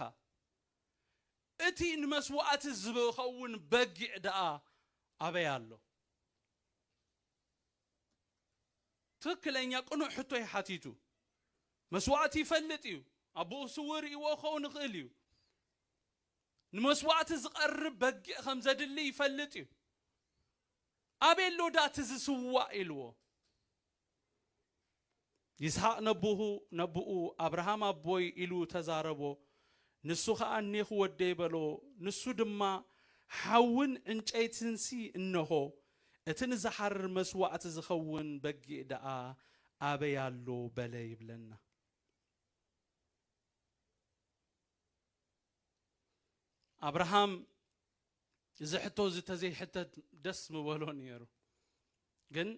እቲ ንመስዋእቲ ዚኸውን በጊዕ ደኣ ኣበይ ኣሎ? ትኽክለኛ ቅኑዕ ሕቶ እዩ ሓቲቱ። መስዋእቲ ይፈልጥ እዩ፣ ኣቦኡ ስዉእ ርእይዎ ክኸውን ይኽእል እዩ። ንመስዋእቲ ዚቐርብ በጊዕ ከም ዘድሊ ይፈልጥ እዩ። ኣበይ ኣሎ ደኣ እቲ ዚስዋእ? ኢልዎ። ይስሃቅ ነቡሁ ነቡኡ ኣብርሃም ኣቦይ ኢሉ ተዛረቦ ንሱ ከኣ እኔኩ ወደይ በሎ ንሱ ድማ ሓውን ዕንጨይትንሲ እነሆ እቲ ንዝሓርር መስዋእቲ ዝከውን በጊእ ደኣ ኣበይ ኣሎ በለ ይብለና። ኣብርሃም እዚ ሕቶ እዚ ተዘይሕተት ደስ ምበሎ ነይሩ ግን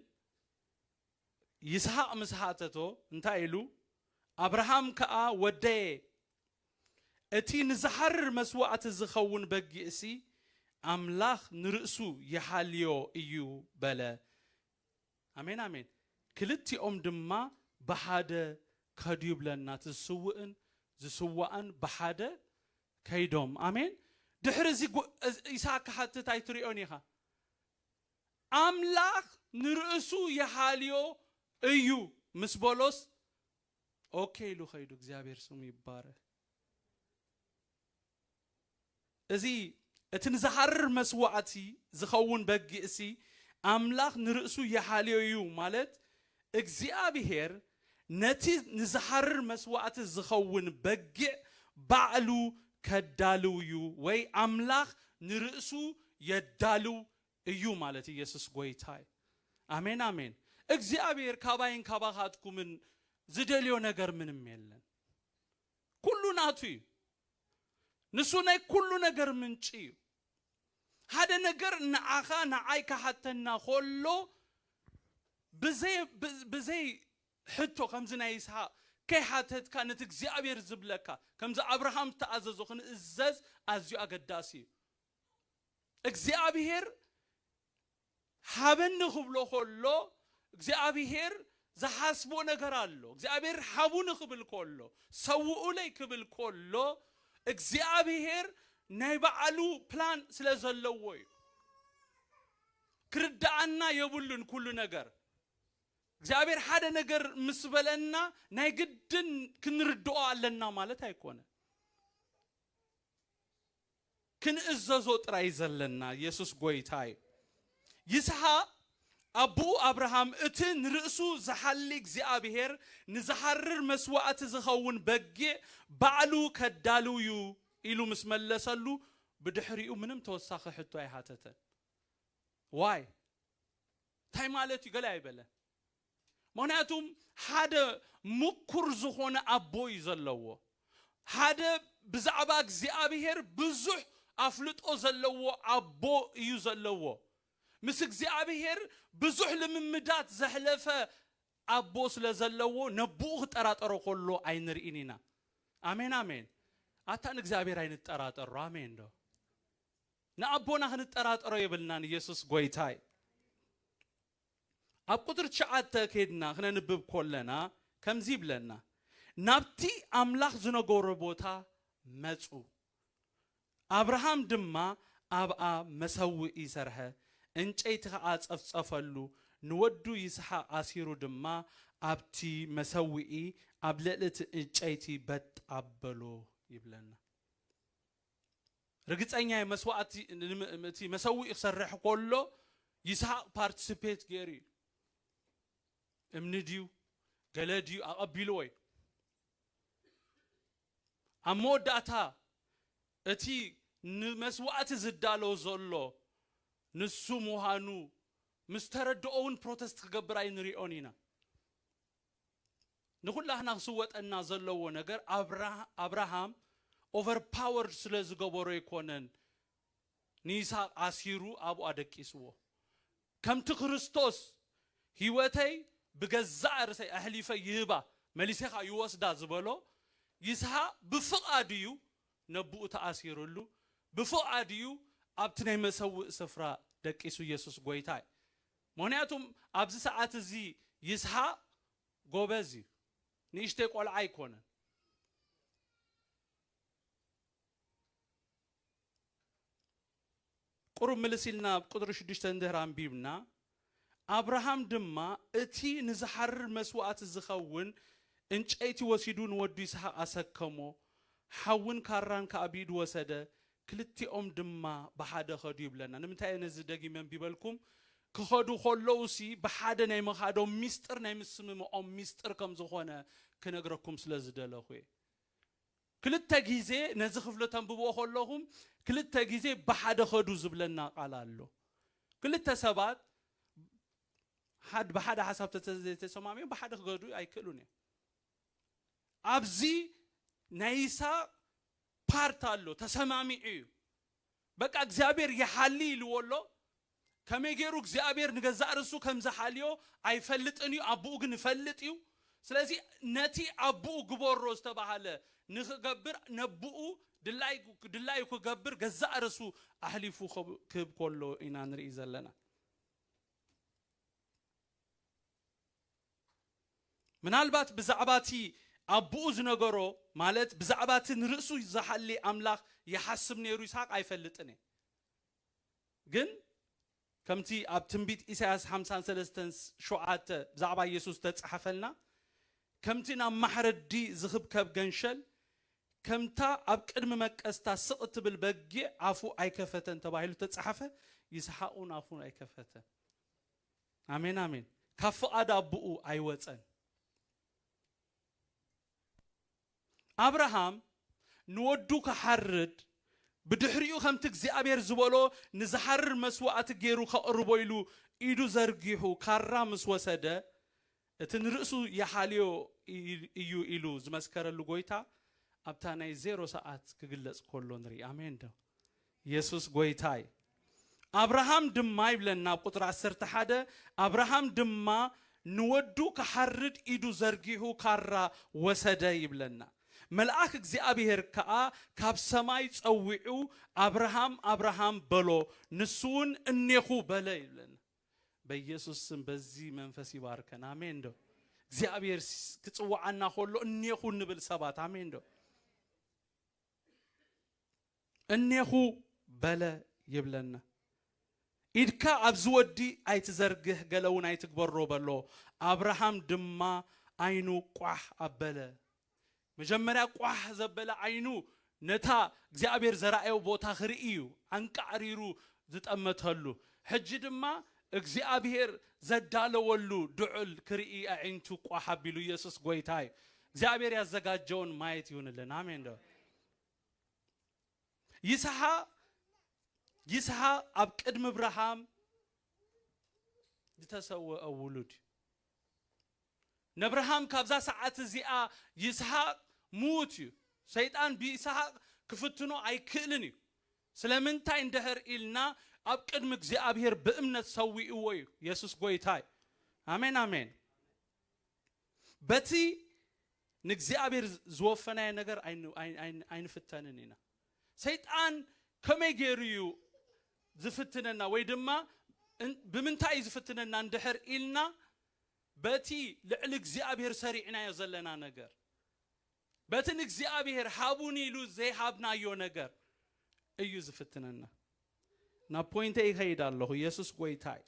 ይስሃቅ ምስ ሃተቶ እንታይ ኢሉ ኣብርሃም ከኣ ወደየ እቲ ንዝሓርር መስዋእቲ ዝኸውን በጊዕሲ ኣምላኽ ንርእሱ ይሓልዮ እዩ በለ ኣሜን ኣሜን ክልቲኦም ድማ ብሓደ ከዱ ይብለና እቲ ዝስውእን ዝስዋእን ብሓደ ከይዶም ኣሜን ድሕሪ እዚ ይስሃቅ ክሓትት ኣይትሪኦን ኢካ ኣምላክ ንርእሱ ይሓልዮ እዩ ምስ በሎስ ኦኬ ኢሉ ከይዱ እግዚኣብሔር ስሙ ይባረክ። እዚ እቲ ንዝሃርር መስዋዕቲ ዝኸውን በጊእሲ ኣምላኽ ንርእሱ ይሓልዮ እዩ ማለት እግዚኣብሔር ነቲ ንዝሃርር መስዋዕቲ ዝኸውን በጊዕ ባዕሉ ከዳልው እዩ ወይ ኣምላኽ ንርእሱ የዳልው እዩ ማለት ኢየሱስ ጎይታ እዩ ኣሜን ኣሜን እግዚኣብሔር ካባይን ካባካትኩምን ዝደልዮ ነገር ምንም የለን ኩሉ ናቱ እዩ ንሱ ናይ ኩሉ ነገር ምንጪ እዩ ሓደ ነገር ንዓኻ ንዓይ ካሓተና ኮሎ ብዘይ ብዘይ ሕቶ ከምዚ ናይ ይስሓቅ ከይሓተትካ ነቲ እግዚኣብሔር ዝብለካ ከምዚ ኣብርሃም ዝተኣዘዞ ክንእዘዝ ኣዝዩ ኣገዳሲ እዩ እግዚኣብሄር ሃበኒ ክብሎ ከሎ እግዚኣብሄር ዝሓስቦ ነገር ኣሎ። እግዚኣብሄር ሃቡኒ ክብል ከሎ ሰውኡለይ ክብል ከሎ እግዚኣብሄር ናይ ባዕሉ ፕላን ስለ ዘለዎ እዩ። ክርድኣና የብሉን ኩሉ ነገር እግዚኣብሔር ሓደ ነገር ምስ በለና ናይ ግድን ክንርድኦ ኣለና ማለት ኣይኮነ ክንእዘዞ ጥራይ ዘለና የሱስ ጎይታ እዩ። ይስሃቅ ኣቡኡ ኣብርሃም እቲ ንርእሱ ዝሓሊ እግዚኣብሄር ንዝሓርር መስዋእቲ ዝኸውን በጊዕ ባዕሉ ከዳሉ እዩ ኢሉ ምስ መለሰሉ ብድሕሪኡ ምንም ተወሳኺ ሕቶ ኣይሃተተን። ዋይ እንታይ ማለት እዩ ገለ ኣይበለን። ምክንያቱም ሓደ ምኩር ዝኮነ ኣቦ እዩ ዘለዎ ሓደ ብዛዕባ እግዚኣብሄር ብዙሕ ኣፍልጦ ዘለዎ ኣቦ እዩ ዘለዎ ምስ እግዚኣብሄር ብዙሕ ልምምዳት ዘሕለፈ ኣቦ ስለ ዘለዎ ነቡኡ ክጠራጠሮ ከሎ ኣይንርኢን ኢና ኣሜን ኣሜን ኣታ ንእግዚኣብሄር ኣይንጠራጠሮ ኣሜን ዶ ንኣቦና ክንጠራጠሮ የብልናን ኢየሱስ ጎይታ እዩ ኣብ ቁጽሪ ትሽዓተ ኬድና ክነንብብ ኮለና ከምዚ ይብለና ናብቲ ኣምላኽ ዝነገሮ ቦታ መጹ ኣብርሃም ድማ ኣብኣ መሰውኢ ሰርሐ እንጨይቲ ከኣ ጸፍጸፈሉ ንወዱ ይስሓቅ ኣሲሩ ድማ ኣብቲ መሰውኢ ኣብ ልዕሊ እቲ እጨይቲ በጥ ኣበሎ ይብለና። ርግጸኛ እየ መስዋእቲ እቲ መሰውኢ ክሰርሕ ኮሎ ይስሃቅ ፓርትስፔት ገይሩ እዩ እምኒ ድዩ ገለ ድዩ ኣቐቢልዎ እዩ ኣብ መወዳእታ እቲ ንመስዋእቲ ዝዳሎ ዘሎ ንሱ ምዃኑ ምስ ተረድኦ እውን ፕሮተስት ክገብር ኣይንሪኦን ኢና ንኩላህና ክስወጠና ዘለዎ ነገር ኣብራሃም ኦቨር ፓወርድ ስለ ዝገበሮ ኣይኮነን ንይስሃቅ ኣሲሩ ኣብኡ ኣደቂስዎ ከምቲ ክርስቶስ ሂወተይ ብገዛእ ርእሰይ ኣሕሊፈ ይህባ መሊሰካ ይወስዳ ዝበሎ ይስሃቅ ብፍቃዱ እዩ ነብኡ ተኣሲርሉ ብፍቃዱ እዩ ኣብቲ ናይ መሰውእ ስፍራ ደቂሱ የሱስ ጎይታ እዩ ምክንያቱ ኣብዚ ሰዓት እዚ ይስሃቅ ጎበዝ እዩ ንእሽተይ ቆልዓ ኣይኮነን። ቁሩብ ምልስ ኢልና ኣብ ቁጽሪ ሽዱሽተ እንድህር ኣንቢብና ኣብርሃም ድማ እቲ ንዝሓርር መስዋእቲ ዝኸውን እንጨይቲ ወሲዱ ንወዱ ይስሃቅ ኣሰከሞ ሓውን ካራን ከኣ ብኢዱ ወሰደ ክልቲኦም ድማ ብሓደ ኸዱ ይብለና። ንምንታይ እየ ነዚ ደጊመ ኣንቢበልኩም? ክኸዱ ከለዉሲ ብሓደ ናይ ምኻዶም ሚስጥር ናይ ምስምምዖም ሚስጥር ከም ዝኾነ ክነግረኩም ስለ ዝደለኹ እየ። ክልተ ግዜ ነዚ ክፍሊ ተንብብዎ ከለኹም ክልተ ግዜ ብሓደ ኸዱ ዝብለና ቃል ኣሎ። ክልተ ሰባት ብሓደ ሓሳብ ተተዘይተሰማሚዖም ብሓደ ክገዱ ኣይክእሉን እዮም። ኣብዚ ናይ ይስሃቅ ፓርት ኣሎ ተሰማሚዑ እዩ በቃ እግዚኣብሔር ይሓሊ ኢልዎ ኣሎ ከመይ ገይሩ እግዚኣብሔር ንገዛእ ርእሱ ከም ዝሓልዮ ኣይፈልጥን እዩ ኣቡኡ ግን ይፈልጥ እዩ ስለዚ ነቲ ኣቡኡ ግበሮ ዝተባሃለ ንክገብር ነቡኡ ድላይ ድላዩ ክገብር ገዛእ ርእሱ ኣሕሊፉ ክህብ ከሎ ኢና ንርኢ ዘለና ምናልባት ብዛዕባ እቲ ኣቦኡ ዝነገሮ፣ ማለት ብዛዕባ እቲ ንርእሱ ዚሓሊ ኣምላኽ ይሓስብ ነይሩ ይስሓቅ ኣይፈልጥን እየ። ግን ከምቲ ኣብ ትንቢት ኢሳይያስ ሓምሳን ሰለስተን ሸውዓተ ብዛዕባ የሱስ ዝተጻሕፈልና፣ ከምቲ ናብ ማሕረዲ ዝኽብከብ ገንሸል፣ ከምታ ኣብ ቅድሚ መቀዝታ ስቕ እትብል በጊዕ ኣፉ ኣይከፈተን ተባሂሉ እተጻሕፈ፣ ይስሓቅ እውን ኣፉ ኣይከፈተን። ኣሜን ኣሜን ካብ ፍቓድ ኣቦኡ ኣይወጸን። ኣብርሃም ንወዱ ክሓርድ ብድሕሪኡ ከምቲ እግዚኣብሔር ዝበሎ ንዝሓርር መስዋእቲ ገይሩ ከቕርቦ ኢሉ ኢዱ ዘርጊሑ ካራ ምስ ወሰደ እቲ ንርእሱ ይሓልዮ እዩ ኢሉ ዝመስከረሉ ጎይታ ኣብታ ናይ ዜሮ ሰዓት ክግለጽ ኮሎ ንርኢ ኣሜን ዶ የሱስ ጎይታ እዩ ኣብርሃም ድማ ይብለና ኣብ ቁጽሪ ዓሰርተ ሓደ ኣብርሃም ድማ ንወዱ ክሓርድ ኢዱ ዘርጊሑ ካራ ወሰደ ይብለና መልኣክ እግዚኣብሄር ከኣ ካብ ሰማይ ጸዊዑ ኣብርሃም ኣብርሃም በሎ ንሱውን እኔኹ በለ ይብለና በየሱስ ስም በዚ መንፈስ ይባርከን ኣሜን ዶ እግዚኣብሔር ክጽውዓና ከሎ እኔኹ እንብል ሰባት ኣሜን ዶ እኔኹ በለ ይብለና ኢድካ ኣብዚ ወዲ ኣይትዘርግህ ገለ እውን ኣይትግበሮ በሎ ኣብርሃም ድማ ዓይኑ ቋሕ ኣበለ መጀመርያ ቋሕ ዘበለ ዓይኑ ነታ እግዚኣብሔር ዘርኣዮ ቦታ ክርኢ እዩ ኣንቃዕሪሩ ዝጠመተሉ ሕጂ ድማ እግዚኣብሔር ዘዳለወሉ ድዑል ክርኢ ኣዒንቱ ቋሕ ኣቢሉ ኢየሱስ ጎይታ እዩ እግዚኣብሔር ያዘጋጀውን ማየት ይሁንልን ኣሜን ዶ ይስሓ ይስሓ ኣብ ቅድሚ እብርሃም ዝተሰወአ ውሉድ እዩ ነብርሃም ካብዛ ሰዓት እዚኣ ይስሃቅ ምዉት እዩ ሰይጣን ብይስሃቅ ክፍትኖ ኣይክእልን እዩ ስለምንታይ እንድህር ኢልና ኣብ ቅድሚ እግዚኣብሄር ብእምነት ሰዊእዎ እዩ የሱስ ጎይታ እዩ ኣሜን ኣሜን በቲ ንእግዚኣብሄር ዝወፈናዮ ነገር ኣይንፍተንን ኢና ሰይጣን ከመይ ገይሩ እዩ ዝፍትነና ወይ ድማ ብምንታይ እዩ ዝፍትነና እንድሕር ኢልና በቲ ልዕሊ እግዚኣብሔር ሰሪዕናዮ ዘለና ነገር፣ በቲ ንእግዚኣብሔር ሃቡኒ ኢሉ ዘይሃብናዮ ነገር እዩ ዝፍትነና። ናብ ፖይንተይ ይኸይድ ኣለኹ፣ የሱስ ጎይታ እዩ።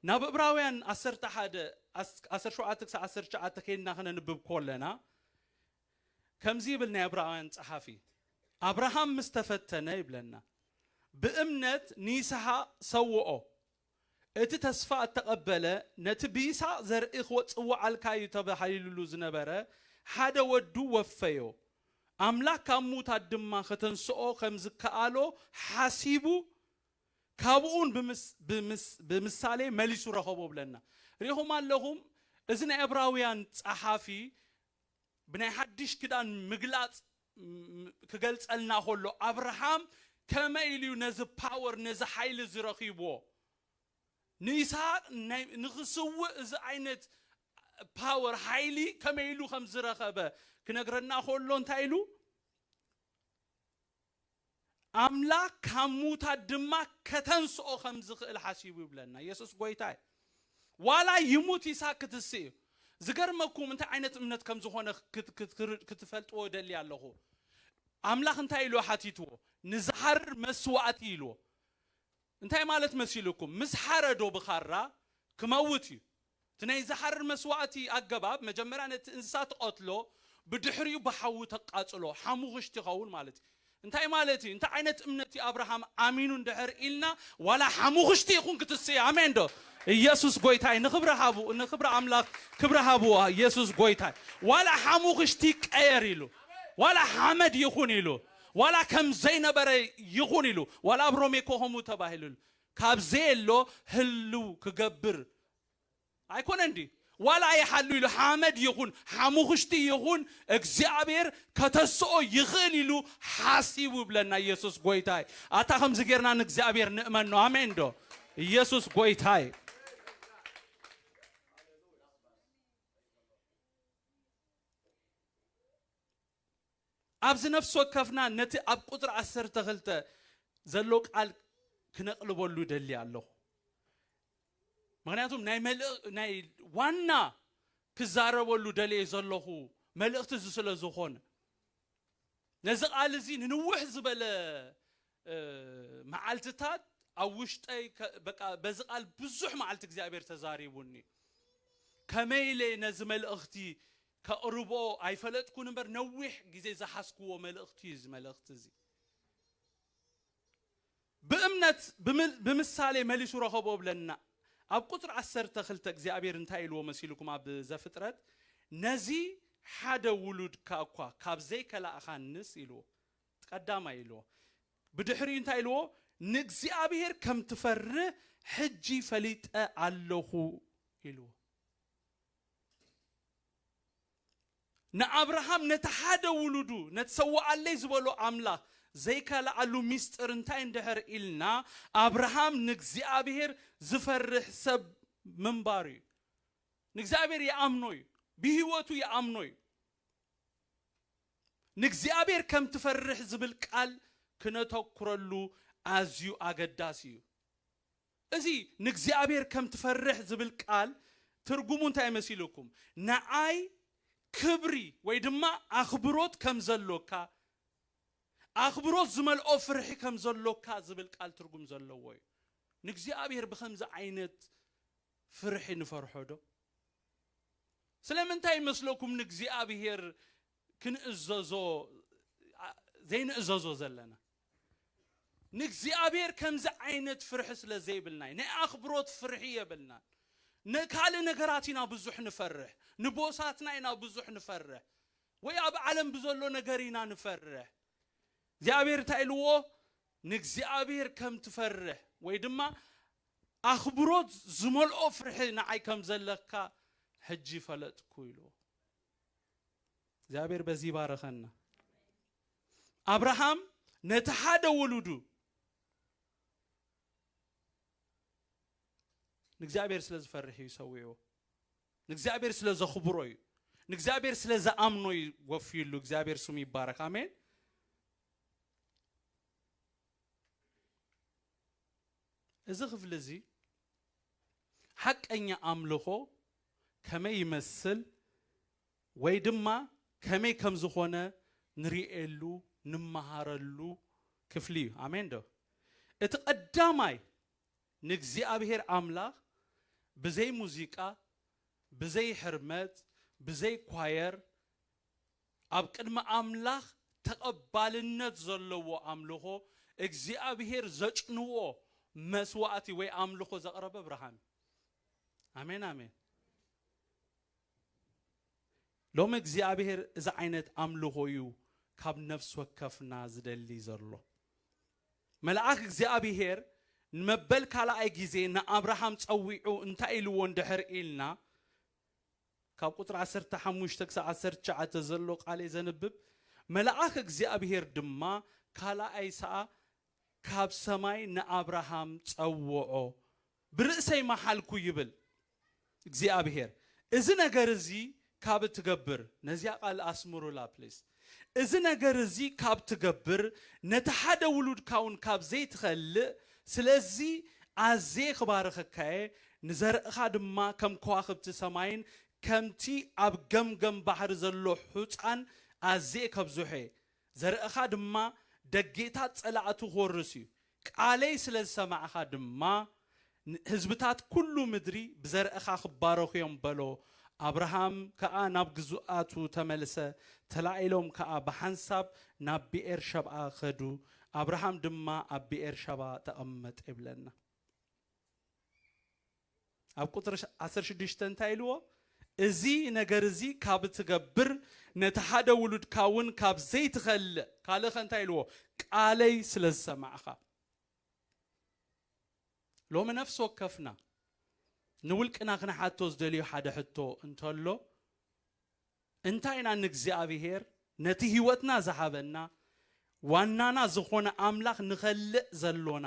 ናብ እብራውያን ዓሰርተ ሓደ ዓሰርተ ሸውዓተ ክሳዕ ዓሰርተ ትሽዓተ ከይድና ክነንብብ ኮለና ከምዚ ይብል ናይ እብራውያን ጸሓፊ ኣብርሃም ምስ ተፈተነ ይብለና ብእምነት ንይስሓቅ ሰውኦ እቲ ተስፋ እተቐበለ ነቲ ብይስሃቅ ዘርኢ ክወጽዋዓልካ እዩ ተባሂልሉ ዝነበረ ሓደ ወዱ ወፈዮ። ኣምላኽ ካብ ምዉታት ድማ ከተንስኦ ከም ዝከኣሎ ሓሲቡ ካብኡውን ብምሳሌ መሊሱ ረኸቦ እብለና። ርኢኹም ኣለኹም እዚ ናይ ዕብራውያን ጸሓፊ ብናይ ሓድሽ ክዳን ምግላጽ ክገልጸልና ከሎ ኣብርሃም ከመይ ኢሉ እዩ ነዚ power ነዚ ሓይሊ እዚ ረኺብዎ ንይስሃቅ ናይ ንኽስውእ እዚ ዓይነት power ሓይሊ ከመይ ኢሉ ከም ዝረኸበ ክነግረና ከሎ እንታይ ኢሉ ኣምላኽ ካብ ምዉታት ድማ ከተንስኦ ከም ዝኽእል ሓሲቡ ይብለና። የሱስ ጐይታ እዩ። ዋላ ይሙት ይስሃቅ ክትስእ እዩ። ዝገርመኩም እንታይ ዓይነት እምነት ከም ዝኾነ ክትፈልጥዎ እደሊ ኣለኹ። ኣምላኽ እንታይ ኢሉ ሓቲትዎ? ንዝሃርር መስዋእቲ ኢልዎ። እንታይ ማለት መሲሉኩም ምስ ሓረዶ ብኻራ ክመውት እዩ እቲ ናይ ዝሓርር መስዋእቲ ኣገባብ መጀመርያ ነቲ እንስሳ ትቐትሎ ብድሕሪኡ ብሓዊ ተቃጽሎ ሓሙኽሽቲ ይኸውን ማለት እዩ እንታይ ማለት እዩ እንታይ ዓይነት እምነት እዩ ኣብርሃም ኣሚኑ እንድሕር ኢልና ዋላ ሓሙኽሽቲ ይኹን ክትስእይ ኣሜን ዶ እየሱስ ጎይታ እዩ ንኽብሪ ሃቡ ንኽብሪ ኣምላኽ ክብሪ ሃብዎ እየሱስ ጎይታ እዩ ዋላ ሓሙኽሽቲ ይቀየር ኢሉ ዋላ ሓመድ ይኹን ኢሉ ዋላ ከም ዘይነበረ ይኹን ኢሉ፣ ዋላ ኣብ ሮሜ እኮ ከምኡ ተባሂሉ፣ ካብ ዘየሎ ህልው ክገብር ኣይኮነን ድዩ? ዋላ ይሓሉ ኢሉ፣ ሓመድ ይኹን ሓሙኽሽቲ ይኹን እግዚኣብሔር ከተስኦ ይኽእል ኢሉ ሓሲቡ ይብለና ኢየሱስ ጎይታ እዩ። ኣታ ከምዚ ጌርና ንእግዚኣብሔር ንእመኖ ኣሜን ዶ? ኢየሱስ ጎይታ እዩ። ኣብዚ ነፍሲ ወከፍና ነቲ ኣብ ቁጽሪ ዓሰርተ ክልተ ዘሎ ቃል ክነቕልበሉ እደሊ ኣለኹ። ምኽንያቱም ናይ መልእ ናይ ዋና ክዛረበሉ ደልየ ዘለኹ መልእኽቲ እዚ ስለ ዝኾነ ነዚ ቃል እዚ ንንውሕ ዝበለ መዓልትታት ኣብ ውሽጠይ በቃ በዚ ቃል ብዙሕ መዓልቲ እግዚኣብሔር ተዛሪቡኒ ከመይ ኢለ ነዚ መልእኽቲ ከቕርቦ ኣይፈለጥኩን እምበር ነዊሕ ግዜ ዝሓዝኩዎ መልእኽቲ እዩ እዚ መልእኽቲ እዚ። ብእምነት ብምሳሌ መሊሱ ረኸቦ እብለና። ኣብ ቁጽሪ ዓሰርተ ክልተ እግዚኣብሔር እንታይ ኢልዎ መሲልኩም ኣብ ዘፍጥረት ነዚ ሓደ ውሉድካ እኳ ካብ ዘይከላእኻንስ ኢልዎ እቲ ቀዳማይ ኢልዎ ብድሕሪኡ እንታይ ኢልዎ ንእግዚኣብሔር ከም ትፈርህ ሕጂ ፈሊጠ ኣለኹ ኢልዎ። ንኣብርሃም ነቲ ሓደ ውሉዱ ነቲ ሰውኣለይ ዝበሎ ኣምላኽ ዘይከልኣሉ ምስጢር እንታይ እንድሕር ኢልና ኣብርሃም ንእግዚኣብሔር ዝፈርሕ ሰብ ምንባሩ እዩ። ንእግዚኣብሔር ይኣምኖ እዩ። ብህይወቱ ይኣምኖ እዩ። ንእግዚኣብሔር ከም ትፈርሕ ዝብል ቃል ክነተኩረሉ ኣዝዩ ኣገዳሲ እዩ። እዚ ንእግዚኣብሔር ከም ትፈርሕ ዝብል ቃል ትርጉሙ እንታይ መሲሉኩም ንዓይ ክብሪ ወይ ድማ ኣኽብሮት ከም ዘሎካ ኣኽብሮት ዝመልኦ ፍርሒ ከም ዘሎካ ዝብል ቃል ትርጉም ዘለዎ እዩ ንእግዚኣብሔር ብኸምዚ ዓይነት ፍርሒ ንፈርሖ ዶ ስለምንታይ ይመስለኩም ንእግዚኣብሔር ክንእዘዞ ዘይንእዘዞ ዘለና ንእግዚኣብሔር ከምዚ ዓይነት ፍርሒ ስለ ዘይብልና ናይ ኣኽብሮት ፍርሒ የብልናን ንካልእ ነገራት ኢና ብዙሕ ንፈርሕ ንቦሳትና ኢና ብዙሕ ንፈርሕ ወይ ኣብ ዓለም ብዘሎ ነገር ኢና ንፈርሕ እግዚኣብሔር እንታይ ኢልዎ ንእግዚኣብሔር ከም ትፈርሕ ወይ ድማ ኣኽብሮት ዝመልኦ ፍርሒ ንዓይ ከም ዘለካ ሕጂ ፈለጥኩ ኢልዎ እግዚኣብሔር በዚ ይባረኸና ኣብርሃም ነቲ ሓደ ውሉዱ ንእግዚኣብሔር ስለ ዝፈርሕ እዩ ሰዊዕዎ ንእግዚኣብሔር ስለ ዘኽብሮ እዩ ንእግዚኣብሔር ስለ ዝኣምኖ እዩ ወፍዩሉ እግዚኣብሔር ስሙ ይባረክ ኣሜን እዚ ክፍሊ እዚ ሓቀኛ ኣምልኾ ከመይ ይመስል ወይ ድማ ከመይ ከም ዝኾነ ንርእየሉ፣ ንመሃረሉ፣ ክፍሊ እዩ። ኣሜን ዶ? እቲ ቀዳማይ ንእግዚኣብሔር ኣምላኽ ብዘይ ሙዚቃ፣ ብዘይ ሕርመት፣ ብዘይ ኳየር ኣብ ቅድሚ ኣምላኽ ተቐባልነት ዘለዎ ኣምልኾ እግዚኣብሔር ዘጭንዎ መስዋእቲ ወይ ኣምልኾ ዘቕረበ ኣብርሃም እዩ። ኣሜን ኣሜን። ሎሚ እግዚኣብሄር እዚ ዓይነት ኣምልኾ እዩ ካብ ነፍሲ ወከፍና ዝደሊ ዘሎ። መልኣኽ እግዚኣብሄር ንመበል ካልኣይ ግዜ ንኣብርሃም ጸዊዑ እንታይ ኢልዎ እንድሕር ኢልና ካብ ቁጽሪ ዓሰርተ ሓሙሽተ ክሳብ ዓሰርተ ትሽዓተ ዘሎ ቃል እየ ዘንብብ። መልኣኽ እግዚኣብሄር ድማ ካልኣይ ሰኣ ካብ ሰማይ ንኣብርሃም ጸውዖ፣ ብርእሰይ መሓልኩ ይብል እግዚኣብሄር፣ እዚ ነገር እዚ ካብ እትገብር፣ ነዚኣ ቃል ኣስምሩላ ፕሊስ፣ እዚ ነገር እዚ ካብ እትገብር፣ ነቲ ሓደ ውሉድካ ውን ካብ ዘይትኸልእ፣ ስለዚ ኣዝየ ክባርኸካ እየ፣ ንዘርእኻ ድማ ከም ከዋኽብቲ ሰማይን ከምቲ ኣብ ገምገም ባሕሪ ዘሎ ሑጻን ኣዝየ ከብዝሖ እየ፣ ዘርእኻ ድማ ደጌታት ጸላእቱ ክወርስ እዩ። ቃለይ ስለ ዝሰማዕካ ድማ፣ ህዝብታት ኵሉ ምድሪ ብዘርእኻ ክባረኹ እዮም በሎ። ኣብርሃም ከኣ ናብ ግዙኣቱ ተመልሰ፣ ተላኢሎም ከኣ ብሓንሳብ ናብ ብኤር-ሸብኣ ከዱ። ኣብርሃም ድማ ኣብ ብኤር-ሸብኣ ተቐመጠ ይብለና። ኣብ ቁጽሪ ዓሰርተ ሽዱሽተ እንታይ ኢልዎ እዚ ነገር እዚ ካብ እትገብር ነቲ ሓደ ውሉድካ እውን ካብ ዘይትኸልእ ካልእኸ እንታይ ኢልዎ ቃለይ ስለ ዝሰማዕኻ ሎሚ ነፍሲ ወከፍና ንውልቅና ክንሓቶ ዝደልዮ ሓደ ሕቶ እንተሎ እንታይ ኢና ንእግዚኣብሄር ነቲ ህይወትና ዝሃበና ዋናና ዝኾነ ኣምላኽ ንኸልእ ዘሎና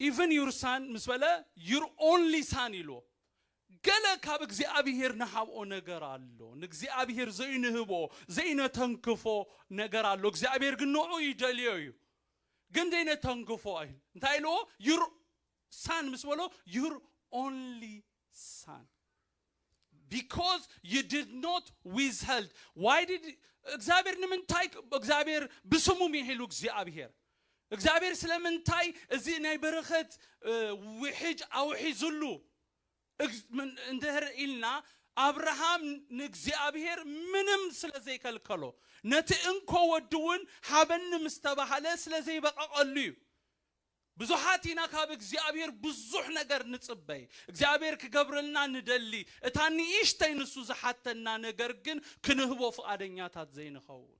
ኢቭን ዩር ሳን ምስ በለ ዩር ኦንሊ ሳን ኢልዎ። ገለ ካብ እግዚኣብሄር ንሃብኦ ነገር ኣሎ። ንእግዚኣብሄር ዘይንህቦ፣ ዘይነተንክፎ ነገር ኣሎ። እግዚኣብሄር ግን ንዑኡ ይደልዮ እዩ። ግን ዘይነተንክፎ ኢል እንታይ ኢልዎ? ዩር ሳን ምስ በሎ ዩር ኦንሊ ሳን because you did not withheld why did እግዚኣብሔር ንምንታይ እግዚኣብሔር ብስሙ ሚሒሉ እግዚኣብሔር እግዚኣብሔር ስለምንታይ እዚ ናይ በረኸት ውሕጅ ኣውሒዝሉ እንድህር ኢልና ኣብርሃም ንእግዚኣብሔር ምንም ስለ ዘይከልከሎ ነቲ እንኮ ወዲ እውን ሃበኒ ምስ ተባሃለ ስለ ዘይበቐቐሉ እዩ ብዙሓት ኢና ካብ እግዚኣብሔር ብዙሕ ነገር ንጽበይ እግዚኣብሔር ክገብረልና ንደሊ እታ ንእሽተይ ንሱ ዝሓተና ነገር ግን ክንህቦ ፍቓደኛታት ዘይንኸውን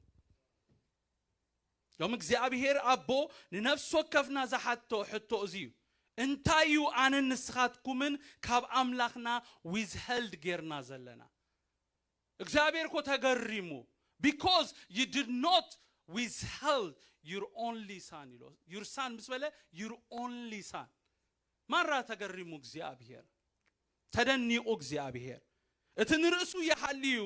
ዮም እግዚኣብሔር ኣቦ ንነፍሲ ወከፍና ዝሓቶ ሕቶ እዚ እዩ እንታይ እዩ ኣነን ንስኻትኩምን ካብ ኣምላኽና ዊዝሀልድ ጌርና ዘለና እግዚኣብሔር እኮ ተገሪሙ because you did not withheld your only son ኢሎ your son ምስ በለ your only son ማራ ተገሪሙ እግዚኣብሔር ተደኒቑ እግዚኣብሔር እቲ ንርእሱ ይሃልዩ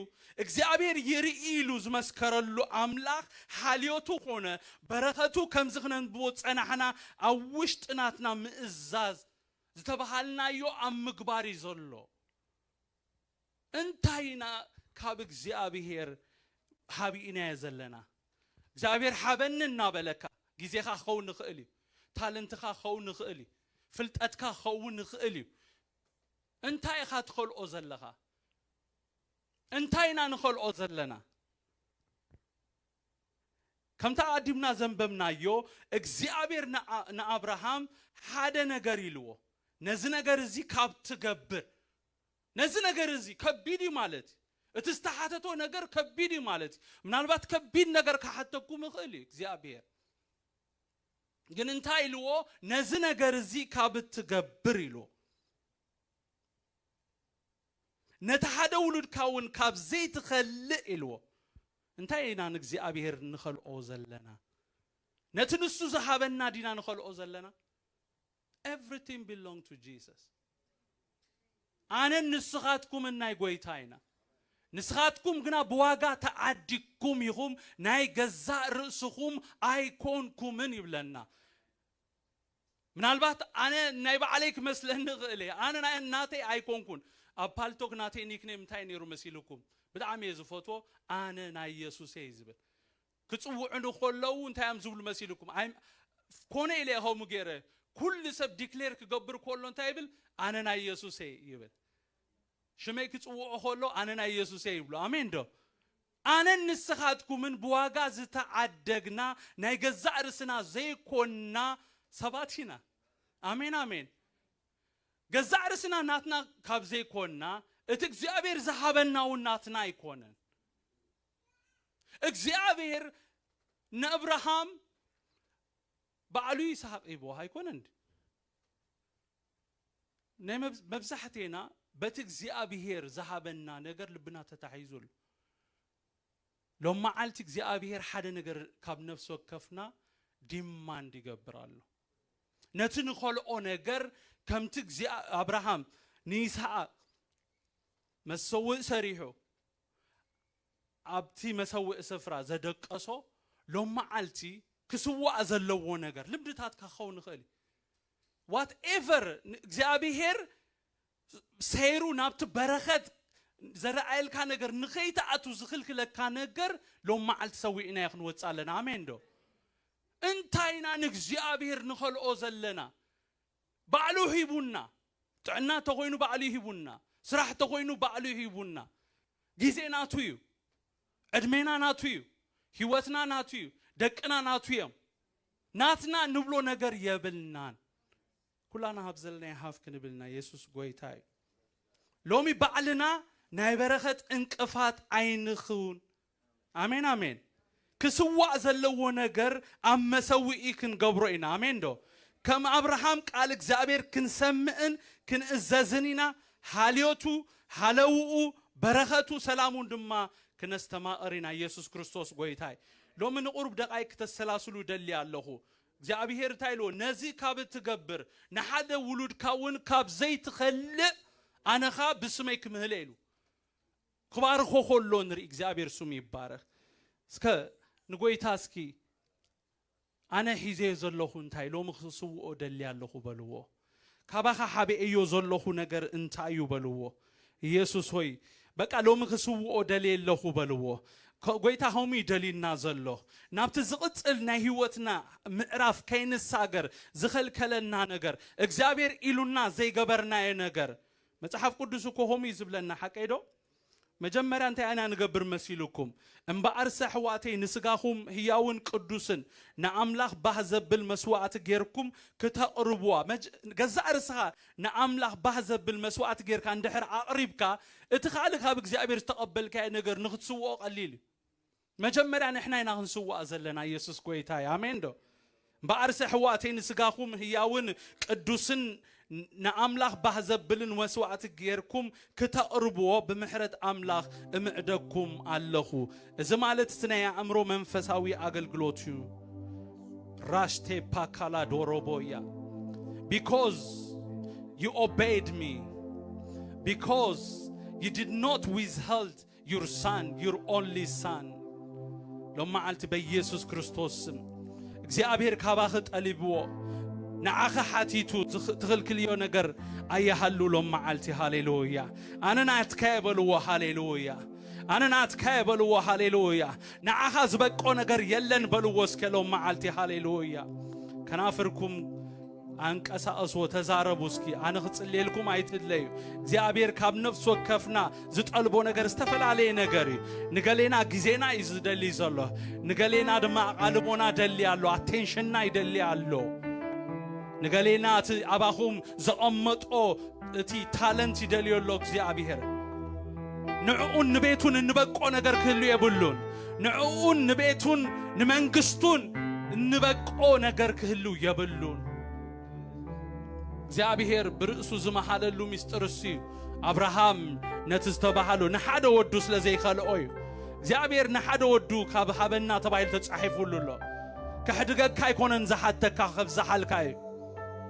እግዚኣብሔር ይርኢ ኢሉ ዝመስከረሉ ኣምላኽ ሓልዮቱ ኮነ በረኸቱ ከምዚ ክነንብቦ ዝጸናሕና ኣብ ውሽጢ ናትና ምእዛዝ ዝተባሃልናዮ ኣብ ምግባር እዩ ዘሎ እንታይ ኢና ካብ እግዚኣብሄር ሓቢኢናዮ ዘለና? እግዚኣብሄር ሓበኒ እናበለካ ግዜኻ ክኸውን ይኽእል እዩ፣ ታለንትኻ ክኸውን ይኽእል እዩ፣ ፍልጠትካ ክኸውን ይኽእል እዩ፣ እንታይ ኢኻ ትኸልኦ ዘለኻ? እንታይ ኢና ንኸልኦ ዘለና? ከምቲ ኣቐዲምና ዘንበብናዮ እግዚኣብሄር ንኣብርሃም ሓደ ነገር ኢልዎ፣ ነዚ ነገር እዚ ካብ ትገብር ነዚ ነገር እዚ ከቢድ እዩ ማለት እዩ። እቲ ዝተሓተቶ ነገር ከቢድ እዩ ማለት እዩ። ምናልባት ከቢድ ነገር ክሓተኩም ይኽእል እዩ እግዚኣብሔር ግን እንታይ ኢልዎ ነዚ ነገር እዚ ካብ እትገብር ኢልዎ ነቲ ሓደ ውሉድካ እውን ካብ ዘይትኸልእ ኢልዎ እንታይ ኢና ንእግዚኣብሔር ንኸልኦ ዘለና ነቲ ንሱ ዝሃበና ዲና ንኸልኦ ዘለና Everything belong to Jesus ኣነን ንስኻትኩምን ናይ ጎይታ ኢና ንስኻትኩም ግና ብዋጋ ተዓዲግኩም ኢኹም ናይ ገዛእ ርእስኹም ኣይኮንኩምን ይብለና ምናልባት ኣነ ናይ ባዕለይ ክመስለኒ ይኽእል እየ ኣነ ናይ ናተይ ኣይኮንኩን ኣብ ፓልቶክ ናተይ ኒክኔም እንታይ ነይሩ መሲልኩም ብጣዕሚ እየ ዝፈትዎ ኣነ ናይ የሱስ እየ ዝብል ክጽውዑኒ ከለዉ እንታይ እዮም ዝብሉ መሲልኩም? ኣይ ኮነ ኢለ እየ ከምኡ ገይረ። ኩሉ ሰብ ዲክሌር ክገብር ከሎ እንታይ ይብል? ኣነ ናይ የሱስ እየ ይብል። ሽመይ ክጽውዑ ከሎ ኣነ ናይ የሱስ እየ ይብሉ። ኣሜን ዶ? ኣነን ንስኻትኩምን ብዋጋ ዝተዓደግና ናይ ገዛእ ርስና ዘይኮንና ሰባት ኢና። ኣሜን ኣሜን። ገዛእ ርስና ናትና ካብ ዘይኮንና እቲ እግዚኣብሔር ዝሃበና እውን ናትና ኣይኮነን። እግዚኣብሔር ንኣብርሃም ባዕሉ ይስሃቅ ሂብዎ ኣይኮነን ድ ናይ መብዛሕቴና በቲ እግዚኣብሔር ዝሃበና ነገር ልብና ተታሒዙ ኣሎ ሎም መዓልቲ እግዚኣብሔር ሓደ ነገር ካብ ነፍሲ ወከፍና ዲማንድ ይገብር ኣሎ ነቲ ንኸልኦ ነገር ከምቲ ኣብርሃም ንይስሃቅ መሰውእ ሰሪሑ ኣብቲ መሰውኢ ስፍራ ዘደቀሶ ሎምዓልቲ ክስዋእ ዘለዎ ነገር ልምድታትካ ክኸውን ይኽእል እዩ ዋት ኤቨር እግዚኣብሄር ሰይሩ ናብቲ በረኸት ዘረኣየልካ ነገር ንኸይትኣቱ ዝኽልክለካ ነገር ሎምዓልቲ ሰዊእናዮ ክንወፅእ ኣለና ኣሜን ዶ እንታይ ኢና ንእግዚኣብሄር ንኸልኦ ዘለና ባዕሉ ሂቡና ጥዕና ተኾይኑ ባዕሉ ሂቡና ስራሕ ተኾይኑ ባዕሉ ሂቡና ግዜ ናቱ እዩ ዕድሜና ናቱ እዩ ሂወትና ናቱ እዩ ደቅና ናቱ እዮም ናትና ንብሎ ነገር የብልናን ኩላና ሃብ ዘለናዮ ሃፍ ክንብል ኢና የሱስ ጎይታ እዩ ሎሚ ባዕልና ናይ በረኸት እንቅፋት ኣይንኹን ኣሜን ኣሜን ክስዋእ ዘለዎ ነገር ኣብ መሰውኢ ክንገብሮ ኢና ኣሜን ዶ ከም ኣብርሃም ቃል እግዚኣብሔር ክንሰምእን ክንእዘዝን ኢና ሃልዮቱ ሃለውኡ በረኸቱ ሰላሙን ድማ ክነስተማቕር ኢና ኢየሱስ ክርስቶስ ጎይታይ ሎሚ ንቑሩብ ደቓይ ክተሰላስሉ ደሊ ኣለኹ እግዚኣብሔር እንታይ ኢልዎ ነዚ ካብ እትገብር ንሓደ ውሉድካ እውን ካብ ዘይትኸልእ ኣነኻ ብስመይ ክምህለ ኢሉ ክባርኮ ከሎ ንርኢ እግዚኣብሔር ስሙ ይባረክ እስከ ንጎይታ እስኪ ኣነ ሒዘዮ ዘለኹ እንታይ ሎሚ ክስውኦ ደሊ ኣለኹ በልዎ ካባኻ ሓቢኤዮ ዘለኹ ነገር እንታይ እዩ በልዎ ኢየሱስ ሆይ በቃ ሎሚ ክስውኦ ደልየ ኣለኹ በልዎ ጎይታ ከምኡ እዩ ደልዩና ዘሎ ናብቲ ዝቕፅል ናይ ህይወትና ምዕራፍ ከይንሳገር ዝኸልከለና ነገር እግዚኣብሔር ኢሉና ዘይገበርናዮ ነገር መጽሓፍ ቅዱስ እኮ ከምኡ እዩ ዝብለና ሓቀይ ዶ? መጀመርያ እንታይ ኢና ንገብር መሲልኩም? እምበኣርሰ ኣሕዋተይ ንስጋኹም ህያውን ቅዱስን ንኣምላኽ ባህ ዘብል መስዋእቲ ጌርኩም ክተቕርብዋ መጀ ገዛእ ርስኻ ንኣምላኽ ባህ ዘብል መስዋእቲ ጌርካ እንድሕር ኣቕሪብካ እቲ ካልእ ካብ እግዚኣብሔር ዝተቐበልካዮ ነገር ንኽትስውኦ ቀሊል እዩ። መጀመርያ ንሕና ኢና ክንስዋእ ዘለና የሱስ ጎይታ እዩ ኣሜን ዶ እምበኣርሰ ኣሕዋተይ ንስጋኹም ህያውን ቅዱስን ንኣምላኽ ባህ ዘብልን ወስዋዕቲ ጌርኩም ክተቕርብዎ ብምሕረት ኣምላኽ እምዕደኩም ኣለኹ እዚ ማለት እቲ ናይ ኣእምሮ መንፈሳዊ ኣገልግሎት እዩ ራሽቴ ፓካላ ዶሮቦ እያ ቢኮዝ ዩ ኦቤይድ ሚ ቢኮዝ ዩ ዲድ ኖት ዊዝሀልድ ዩር ሳን ዩር ኦንሊ ሳን ሎመዓልቲ በኢየሱስ ክርስቶስ ስም እግዚኣብሔር ካባኺ ጠሊብዎ ንዓኺ ሓቲቱ ትኽልክልዮ ነገር ኣይሃሉ ሎመዓልቲ ሃሌሉያ ኣነ ናትካ የበልዎ ሃሌሉያ ኣነ ናትካ የበልዎ ሃሌሉያ ንዓኻ ዝበቆ ነገር የለን በልዎ እስከ ሎመዓልቲ ሃሌሉያ ከናፍርኩም ኣንቀሳቐስዎ ተዛረቡ እስኪ ኣነ ክጽልየልኩም ኣይትድለዩ እግዚኣብሔር ካብ ነፍሲ ወከፍና ዝጠልቦ ነገር ዝተፈላለየ ነገር እዩ ንገሌና ግዜና እዩ ዝደሊ ዘሎ ንገሌና ድማ ኣቓልቦና ደሊ ኣሎ ኣቴንሽንና ይደሊ ኣሎ ንገሌና እቲ ኣባኹም ዘቐመጦ እቲ ታለንት ይደልዮ ኣሎ እግዚኣብሔር ንዕኡን ንቤቱን እንበቆ ነገር ክህሉ የብሉን ንዕኡን ንቤቱን ንመንግስቱን እንበቆ ነገር ክህሉ የብሉን እግዚኣብሔር ብርእሱ ዝመሃለሉ ምስጢር እሱ እዩ ኣብርሃም ነቲ ዝተባሃሉ ንሓደ ወዱ ስለ ዘይከልኦ እዩ እግዚኣብሔር ንሓደ ወዱ ካብ ሃበና ተባሂሉ ተጻሒፉሉ ኣሎ ከሕድገካ ኣይኮነን ዝሓተካ ከብዝሓልካ እዩ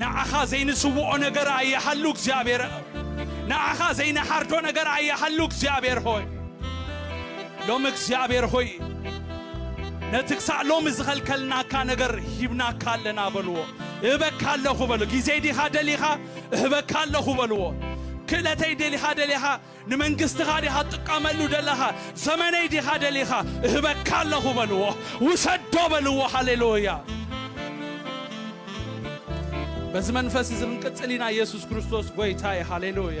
ንዓኻ ዘይንስውኦ ነገር ኣይሃሉ እግዚኣብሔር ንዓኻ ዘይንሓርዶ ነገር ኣይሃሉ እግዚኣብሔር ሆይ ሎሚ እግዚኣብሔር ሆይ ነቲ ክሳዕ ሎሚ ዝኸልከልናካ ነገር ሂብናካ ኣለና በልዎ እህበካ ኣለኹ በሉ ጊዜይ ዲኻ ደሊኻ እህበካ ኣለኹ በልዎ ክእለተይ ደሊኻ ደሊኻ ንመንግስትኻ ዲኻ ትጥቀመሉ ደለኻ ዘመነይ ዲኻ ደሊኻ እህበካ ኣለኹ በልዎ ውሰዶ በልዎ ሃሌሉያ በዚ መንፈስ እዚ ክንቅጽል ኢና ኢየሱስ ክርስቶስ ጎይታይ ሃሌሉያ